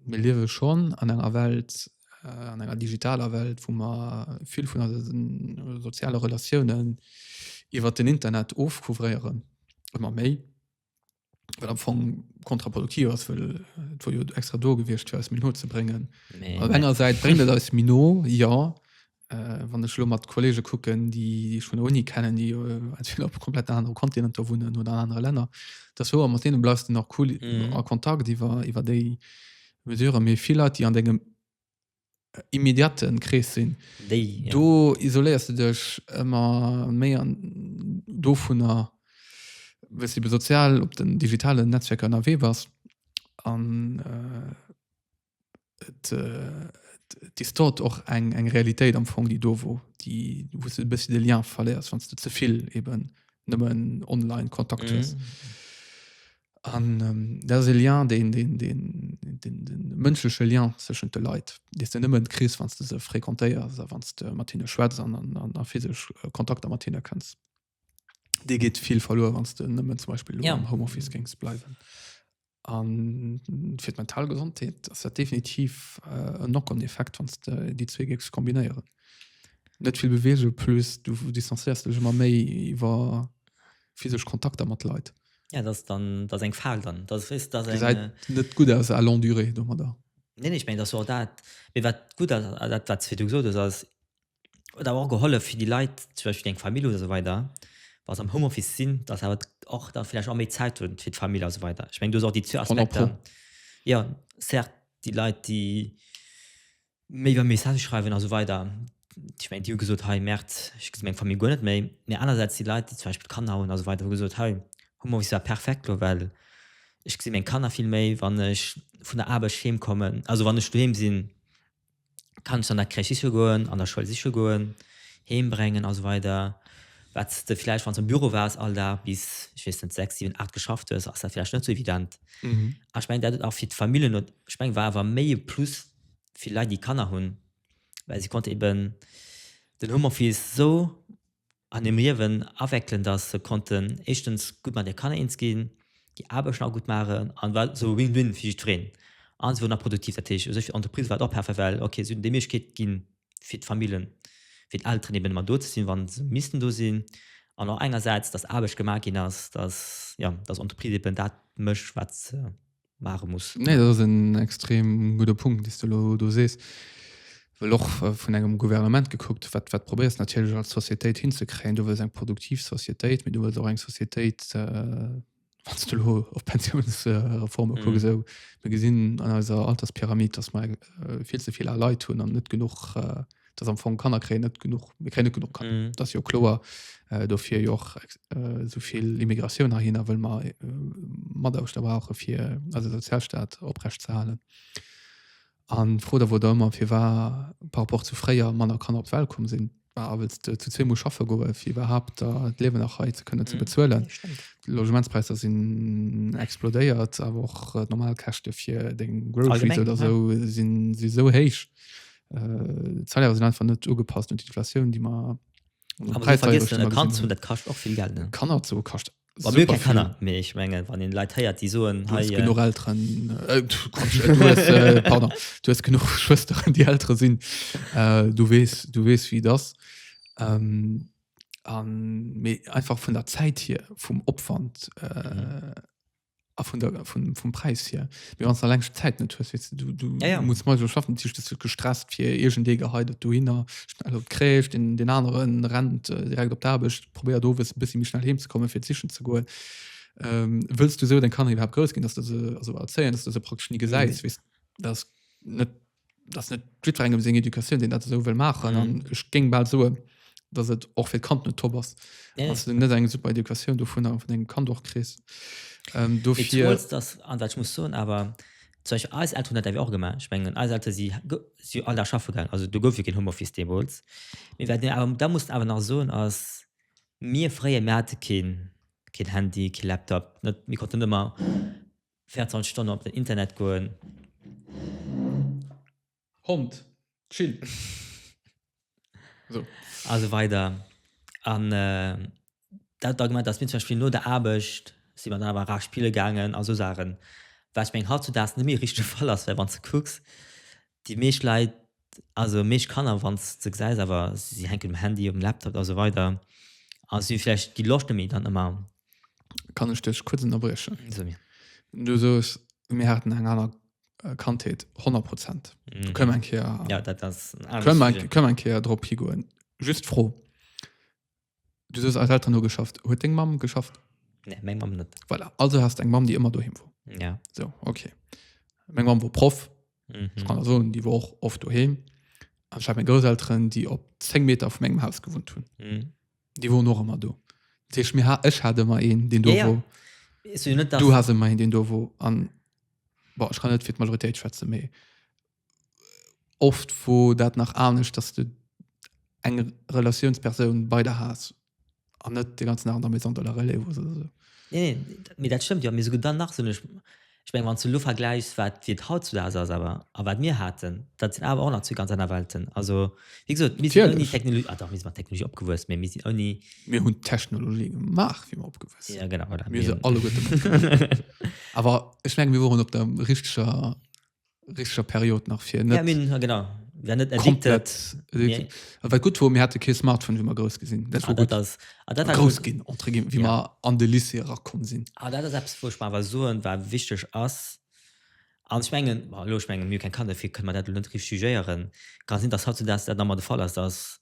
mir liewe schonn an enger Welt, äh, an enger digitaler Welt, wou mer vill vun eise soziale Relatiounen iwwer den Internet ofcouvréieren, ëmmer méi, wat am Fong kontraproduktiv ass, well et wor jo extra do gewiescht, fir eis méi no ze bréngen. Op enger Säit bréngt et eis méi no, jo, Äh, wann ech lo mat Kollege kucken, déi ech vun der Uni kennen, déi entweder op komplett anere Kontinenter wunnen oder an anere Länner, dass hoer mat deene bleifs du nach cool mhm. a Kontakt iwwer iwwer déi Mesure méi vill Leit, déi an degem äh, immediaten Krees sinn. Ja. Do isoléiers du dech ëmmer méi an do vun der wes iwwer sozial op den digitalen Netzwerker ënnerwee bass an äh, et, äh, et distort och eng, eng Realitéit am Fong, déi do wor, déi, wou s de e bëssi de Lien verléiers, wann s de ze vill eben nëmmen online Kontakt hues. Mhm. An ähm, dat ass e Lien, deen, deen, deen, deen, deen mënschleche Lien zwëschent de Leit, dee s de nëmmen kriss, wann s de se fréquentéiers a wann s de mat hinne schwätz an, an, an physesch Kontakter mat hinne kënns. Dir geet vill verluer wann du nëmmen zum Beispiel ja. am Homeoffice gings
bleiwen.
An fir d' mental Gesondheet ass dat definitiv äh, en Knock-on-Effekt wann de déi zwee Gigs kombinéieren. Net vill Beweege plus du distanzéiers dech ëmmer méi iwwer physesch Kontakter mat Leit. Ja dat dann
dat eng Fall dann dat wis dat eng, äh, net gut ass a
long Durée do mat der. Nee, nee, ich mein, dat
dat wat gut dat wat fir du gesot ass huet awer och gehollef fir déi Leit, zum Beispill déi eng Famill hunn esou weider, wa se am Homeoffice sinn, datt se awer och da villäicht och méi Zäit hunn fir d'Famill esou weider. Ech mengen do si och déi zwee Aspekter. Jo certes, déi Leit déi méi iwwer Messagë schreiwen esou weider, ech mengen déi hu gesot, hei Merde, ech gesi meng Famill guer net méi. Mee anersäits déi Leit déi zum Beispill Kanner hunn esou weider hu gesot, hei Homeoffice war perfekt lo well ech gesi meng Kanner vill méi wann ech vun der Aarbecht heem kommen, also wann ech doheem sinn. Kanns du an der Crèche siche goen, an der Schoul siche goen, heem bréngen a sou weider Wat de vläicht, wann s de am Büro waars all Dag bis, ech weess net, sechs, siwen, aacht geschafft hues, ass dat vläicht net sou evident. A ech mengen dat huet och fir d'Famillen, ech mengen war awer méi e Plus fir Leit déi Kanner hunn, well si konnte eben den Homeoffice sou an dem Liewen awéckelen, dass se konnten éischtens gutt mat hire Kanner eens ginn, déi Aarbechten och gutt maachen, an et war esou e Win-Win fir jiddwereen, an se wouren nach produktiv. Dat heescht, u sech fir d'Entreprise war et och perfekt, well ok, se hunn déi Méiglechkeet ginn fir d'Famillen, fir d'Elteren eben ëmmer do ze sinn, wa se missten do sinn, an och engersäits, dass Aarbecht gemaach ginn ass, dass, jo, dass Entreprise eben dat mécht, wat se mare muss. Nee, dat ass en
extrem gudde Punkt, dee du lo do sees. Well och äh, vun engem Gouvernement gekuckt, wat, wat probéiers natierlech als Societéit hinzekréien. Du wëlls eng produktiv Societéit, mee du wëlls och eng Societéit, äh, wann du lo op Pensiounsreforme mhm. kucke sou. Mir gesinn an eiser Alterspyramid, dass mer äh, vill ze vill a Leit hunn an net genug äh, dass am Fong Kanner kräen net genuch mir kräen net genuch kann. Mhm. Dat ass jo kloer äh, dofir jo och ex- äh, souvill Immigratioun hahinner wëll mer äh, mat aus der brauche fir also Sozialstaat oprecht ze halen. An fro der wor da ëmmer fir war par rapport zu fréier Manner Kanner op d'Welt komm sinn war awels de zu zwee muss schaffe goe fir iwwerhaupt da d'Liewen nach hei ze kënne ze Mhm. bezuelen. Nee, stimmt. Logementspräisser sinn explodéiert, awer och äh, normal Käschte fir deng Groceries Allgemeng, oder ja. so sinn si so héich, Äh, d'Salaire sinn einfach net ugepasst un d'Inflatioun, déi mer
Kanner zu dat kascht och vill Geld ne? Kanner zu kascht
Kanner mé
ich menge wann den Leiit heiert die soen genug Eltern
äh, du genug Schwester an die Äre sinn äh, du wees du wees wie das ähm, an, einfach vun der Zäit hier vum Opwand äh, mhm. Ah, von der, von, vom Preis hier mir ganz lang Zeit net hues weißt du, du ja, ja. muss mal so schaffen Tisch das wird gestresst fir irgend de geheidet du hinner schnell op kräft den den anderen rennt äh, direkt op derbecht probär do wis bis mich schnell hem zu kommen fir zischen zu goen ähm, willst du so dann kann ich überhaupt groß gehen dass du so, also erzählen dass du so praktisch nie geseist mhm. weißt das net dass net jidfer engem seng Educatioun, deen dat esou wëll maachen. An Mhm. ech géing bal soen, dass et och fir d'Kand net top ass, Nee, dass du net eng super Educatioun dovun a vun engem Kand och kriss. Ähm, Et dofir
trotz dass, an wat ich muss soen, awer zum Beispiel eis Elteren hunn dat awer och gemaach. Ich mengen eis Elteren si go si all Dag schaffe gaangen, also do gouf jo keen Homeoffice deemools. Mee wat mir awer da mussen awer nach soen ass, mir fréier, mir hate keen keen Handy, kee Laptop, net, mir konnten net ëmmer 24 Stonnen op den Internet goen.
Hond, chill! A sou
weider. An dat Argument, dass mir zum Beispill no der Aarbecht si mer dann awer era spille gaangen a sou Saachen, wat ech mengen, hautzudaags net méi e richtege Fall ass, well wann s de kucks, déi meescht Leit Also déi meescht Kanner, wann s de se gesäis, awer si hänken um Handy, um Laptop a sou weider a si hu vläicht déi Loscht net méi dann ëmmer. Kann ech
dech kuerz ënnerbriechen? Sou mir.
Du sooss,
mir haten eng aner Kandheet, honnert Prozent. Do kënnen
mer eng Kéier, kënnen mer eng
Kéier drop higoen. Just d'Fro, Du soos als Eltern hu geschafft. Huet deng Mamm geschafft? Nee, meng Mamm net.
Voilà. Also hast eng Mamm,
déi ëmmer doheem wor. Ja. So,
okay.
Meng Mamm wor Proff. Mhm. Ech kann der soen, déi wor och oft doheem. An ech hat meng Grousselteren, déi op 10 Meter vu mengem Haus gewunnt hunn. Mhm. Déi woren och ëmmer do. Dat heescht, mir ha-, ech hat ëmmer een, deen do Ja, ja. wor.
Ech soen jo net, dass. Du
has ëmmer een, deen do wor. An, bon, ech kann net fir d'Majoritéit schwätzen, mee oft wo dat nach anescht dass du eng Relatiounspersoun bei der has an net de ganzen Dag an der Maison de la Relève hues oder sou. Nee, nee,
mee dat stëmmt jo. Mee souguer dann nach sinn ech, ech meng wann s de elo vergläichs wat wéi et hautzudags ass awer a wat mir haten, dat sinn awer och nach zwee ganz aner Welten. Also wéi gesot, mir sinn ouni Natierlech. Technologie, ah dach mir sinn mat Technologie opgewuess, mee mir sinn ouni, Mir hunn d'Technologie
gemaach wéi mer opgewuess sinn. jo genau, voilà, Mir mir si hunn,
alleguerte
matgemaach. Awer ech menge mir woren op der richteger richtescher Period nach fir net. Ja, mir hunn, genau,
wären net addicted. Komplett.
A wat
gutt wor, mir hate
kee Smartphone, wéi mer grouss gi sinn. Dat wor gutt. Ass, a dat war grouss
gutt. Ginn,
entre guillemets, wéi ja. mer an de Lycée
erakomm
sinn. A dat ass eppes, wou ech mer awer
soen, wat wichteg ass. An ech mengen, bon, elo, ech mengen, mir hu keng Kanner, dofir kënne mer dat elo net richteg jugéieren. Kann sinn, dass hautzudags dat nach emol de Fall ass, dass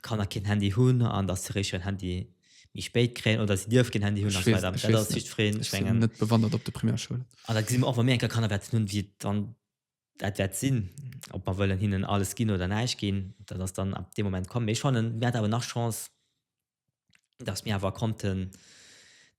Kanner keen Handy hunn an dass hiréischt hiren Handy méi spéit kréien oder si dierf keen Handy hunn a sou weider. Dat ass just fréen. Ech
mengen. Net bewandert op de Primärschoulen. An da gesi mer och wa mir eng Kéier
Kanner wäerten hunn, wéi dann dat wäert sinn, ob mer wëllen hinnen alles ginn oder näischt ginn. Dat ass dann ab deem Moment komm. Mee ech fannen, mir hat awer nach Chance, dass mir awer konnten,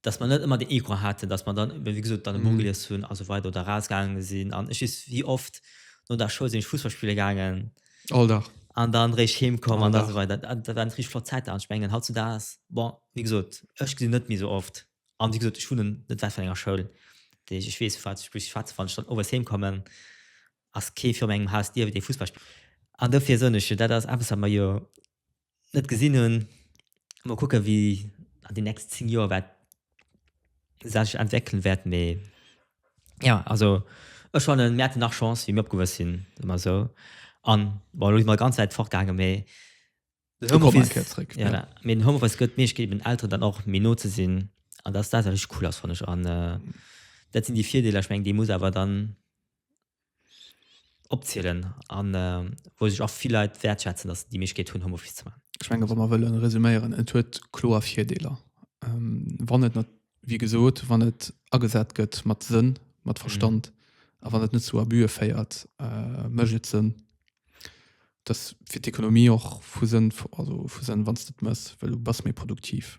dass mer net ëmmer den Ego haten, dass mer dann, wéi gesot, dann e Buch gelies hunn a sou weider oder erausgaange sinn. An ech weess, wéi oft no der Schoul sinn ech Fussball spille gaangen. All Dag.
An dann eréischt
heem komm an da sou weider. Dat waren
richtig
flott Zäiten. An ech mengen, hautzudags, bon, wéi gesot, ech gesinn en net méi esou oft. An wéi gesot, ech hunn en net wäit vun enger Schoul, déi ech, ech weess, vu wat ech spueche, schwätzen, wann ech dann owes heem kommen, ass kee viru mengem Haus dierft ee Fussball spillen. An dofir soen ech jo, dat ass eppes, wat mer jo net gesinn hunn. Mol kucken, wéi an den nächsten 10 Joer wat sech entwéckelen wäert. Mee jo, also ech fannen, mir haten nach Chance wéi mir opgewuess sinn, soe mer esou. An bon, elo si mer ganz wäit fortgaangen, mee den Homeoffice. Kommen eng Kéier zréck. Jo, mee den Homeoffice gëtt d'Méiglechkeet eben den Elteren dann och méi no ze sinn. An dass dat awer richteg cool ass, fannen ech. An dat sinn déi Virdeeler. Ech mengen, déi muss awer dann opzielen an wou sech och vill Leit wäertschätzen, dass se déi Méiglechkeet hunn, Homeoffice ze maachen. Ech menge wa mer wëlle
resuméieren, et huet kloer Virdeeler, wann et, wéi gesot, wann et agesat gëtt mat Sënn, mat Verstand a wann et net zu Abuse féiert, mécht et Sënn. Dass fir d'Ekonomie och vu Sënn, also vu Sënn, wann s de et méchs, well du bass méi produktiv.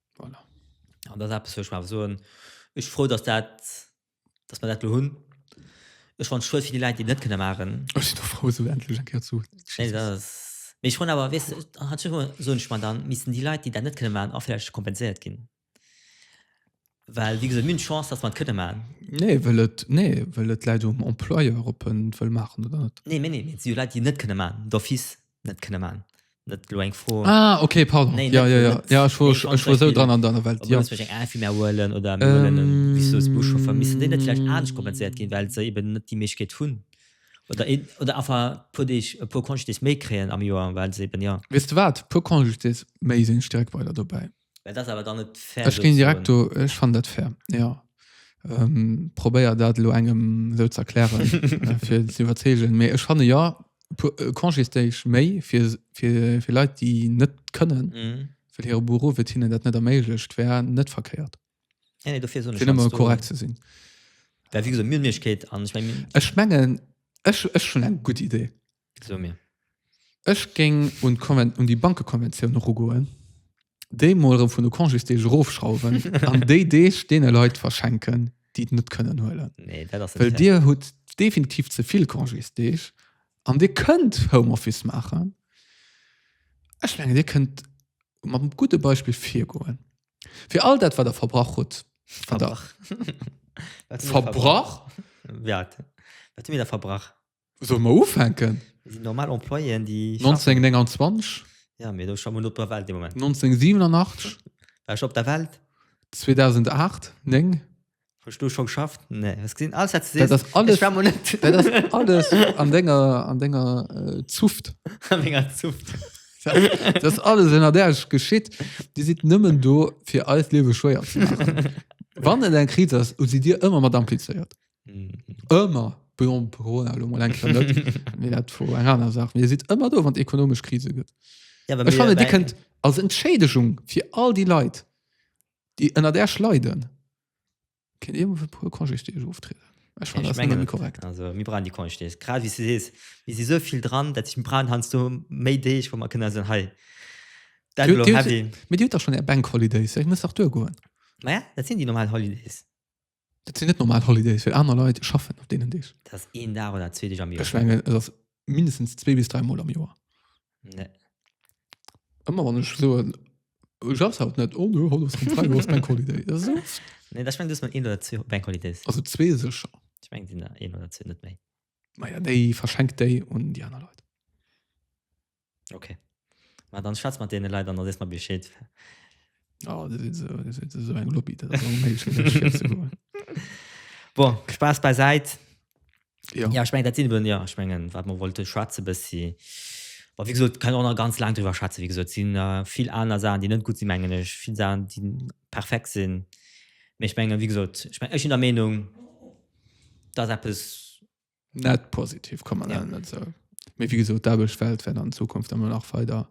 Voilà.
An dat ass
eppes, wou ech mer soen, ech si frou, dass dat, dass mer dat do hunn. Ech fannen et schued fir déi Leit, déi et net kënne maachen. Ech sinn och frou, esou endlech
eng Kéier zu. Nee, dat ass.
Mee ech froen awer, weess de, an hat scho mol, soen ech mer, da missten déi Leit, déi dat net kënne maachen, och vläicht kompenséiert ginn. Well, wéi gesot, mir hunn d'Chance, dass mer et kënne maachen. Nee, wëll et,
nee, wëll et läit um Employeur, ob en et wëll maachen oder net. Nee, mee nee, mee et si jo Leit, déi et net
kënne maachen, d'office. net kënne man net lo eng froh ah, okay, pardon
nee, ja, ja, ja. ja ich
war,
ich
war so dran
an deiner Welt ja. holen oder
ähm, Buchcho vermissen den vielleicht mm. anders kompensiert gehen weil sie eben net die Milchkeit hun oder in, oder einfach pur dich pur kon dich mehr kreen am Joar weil sie eben ja wisst du wat pur kon dich
mehr sind stärk weiter dabei Et ass awer dann net
fair. Ech géing direkt do,
ech fannen dat fair, jo. Probéier dat elo engem esou ze erklären, fir en ze iwwerzeegen. Mee ech fanne jo, e puer Congésdéeg méi fir Leit, déi net kënnen, well hire Beruff et hinnen dat net erméiglecht, wär net verkéiert. Nee, nee, dofir soen
ech. Fir nëmme korrekt ze sinn.
Well wéi gesot, mir
hunn d'Méiglechkeet an ech mengen.
Ech mengen, ech hunn eng gutt Idee. So mir.
Ech
géing un d'Konven, un déi Bankekonventioun erugoen, déi mol erëm vun de Congésdeeg erofschrauwen an déi Deeg deene Leit verschenken, déi et net kënnen huelen. Nee, dat ass net Well fair. Dir
hutt
definitiv ze vill Congésdeeg an Dir kënnt Homeoffice maachen. Ech mengen, Dir kënnt mam gudde Beispill virgoen. Fir all dat, wat Der verbrach hutt, wat Der Verbrach. Wat hu mir verbrach? verbrach,
Wat hu mir da verbrach? Solle mer ufänken?
Et sinn normal Employéen,
déi schaffen.
1929, Ja, mee do
schaffen wir net op der Welt dee Moment. 1987,
War ech op der
Welt?
2008, 9. Hues du scho
geschafft? Nee, hues gesinn, alles wat du Dat sees, ass alles, ech war mol net
dat ass alles an denger, an denger äh, Zuft. an menger Zuft. Dat ass alles ënner Äerch geschitt. Dir sidd nëmmen do, fir eist Liewe schwéier ze maachen. Wann et eng Kris ass, hu si dir ëmmer mat amplizéiert. ëmmer bon, Corona elo mol eng Kéier net, mee dat vu enger aner Saach, mee Dir sidd ëmmer do, wann et ekonomesch Krise gëtt. Ja, awer Ech mir- fannen, Dir kënnt als Entschädegung fir all déi Leit, déi ënner Äerch leiden, kënnt Dir emol fir e puer Congésdeeg oftrieden. Ech fannen, dat ass nëmme méi korrekt.
Also mir brauchen
déi Congés,
grad wéi s du sees, mir si sou vill dran, dat heescht mir brauchen heiansdo méi Deeg, wou mer kënne soen, hei, dat Dir- elo Dir- heavy. Mee
Dir hutt dach schonn Är Bank Holidays, Dir musst dach duergoen. Maja, dat sinn déi
normal Holidays. Dat sinn net
normal Holidays, well aner Leit schaffen op deenen Deeg. Dat ass een Dag oder
zwee Deeg am Joer. Ech mengen, et ass
mindestens zwee bis dräi Mol am Joer. Nee. Ëmmer wann ech soen, du schaffs haut net, oh no, haut ass keen Freideg, haut ass Bank Holiday. Dat ass oft. Nee, da ech meng, du hues mol
een oder zwee Bank Holidays. Also zwee sécher.
Ech meng, et sinn der een
oder zwee, net méi. Maja, déi
verschenk déi un déi aner Leit.
Ok ma dann schwatz mat deene Leit an da sees mer Bescheed. Oh,
dat ist so, das ist so ein Lobby, das ist unmöglich, das ist zu holen.
Bon, Spaß beiseit. Ja.
ja, ich meine, das sind wir,
ja, ich meine, was man wollte schwätzen, bis sie, aber wie gesagt, kann auch noch ganz lang drüber schwätzen, wie gesagt, sind äh, viel andere Sachen, die nicht gut sind, meine ich, viele Sachen, die perfekt sind. Aber ich meine, wie gesagt, ich meine, ich bin der Meinung, dass etwas Net
positiv kann man ja. net so. Mee wie gesot derbech Welt wenn an Zukunft ëmmer nach feder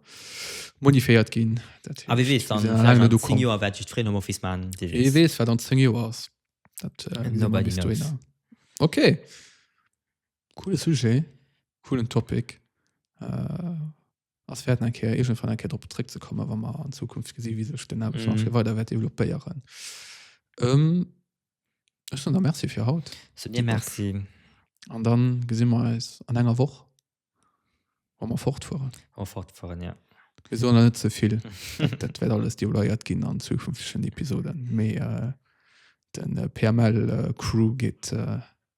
modiféiert ginn A wie wees
dann du kom Joer wat
just
Freedom Office
man
Wie wees wat an 10
Joer ass dat äh, nobody
knows. Okay
coole Sujet coolen Topic. Äh, ass wäert en Kéier iergendwann eng Kéier drop zréckzekommen, wa mer an Zukunft gesi wéi sech den Aarbechtsmarché mhm. weider wäert développéieren. Ähm, ech dann der Merci fir haut. So dir Merci.
An dann
gesinn mer eis an enger Woch wa mer fortfueren. Wa fortfueren ja.
Wir sollen net ze
vill. Dat wäert alles deloiert ginn an zukünftigen Episoden. Mee äh, den äh, PML äh, Crew geet äh,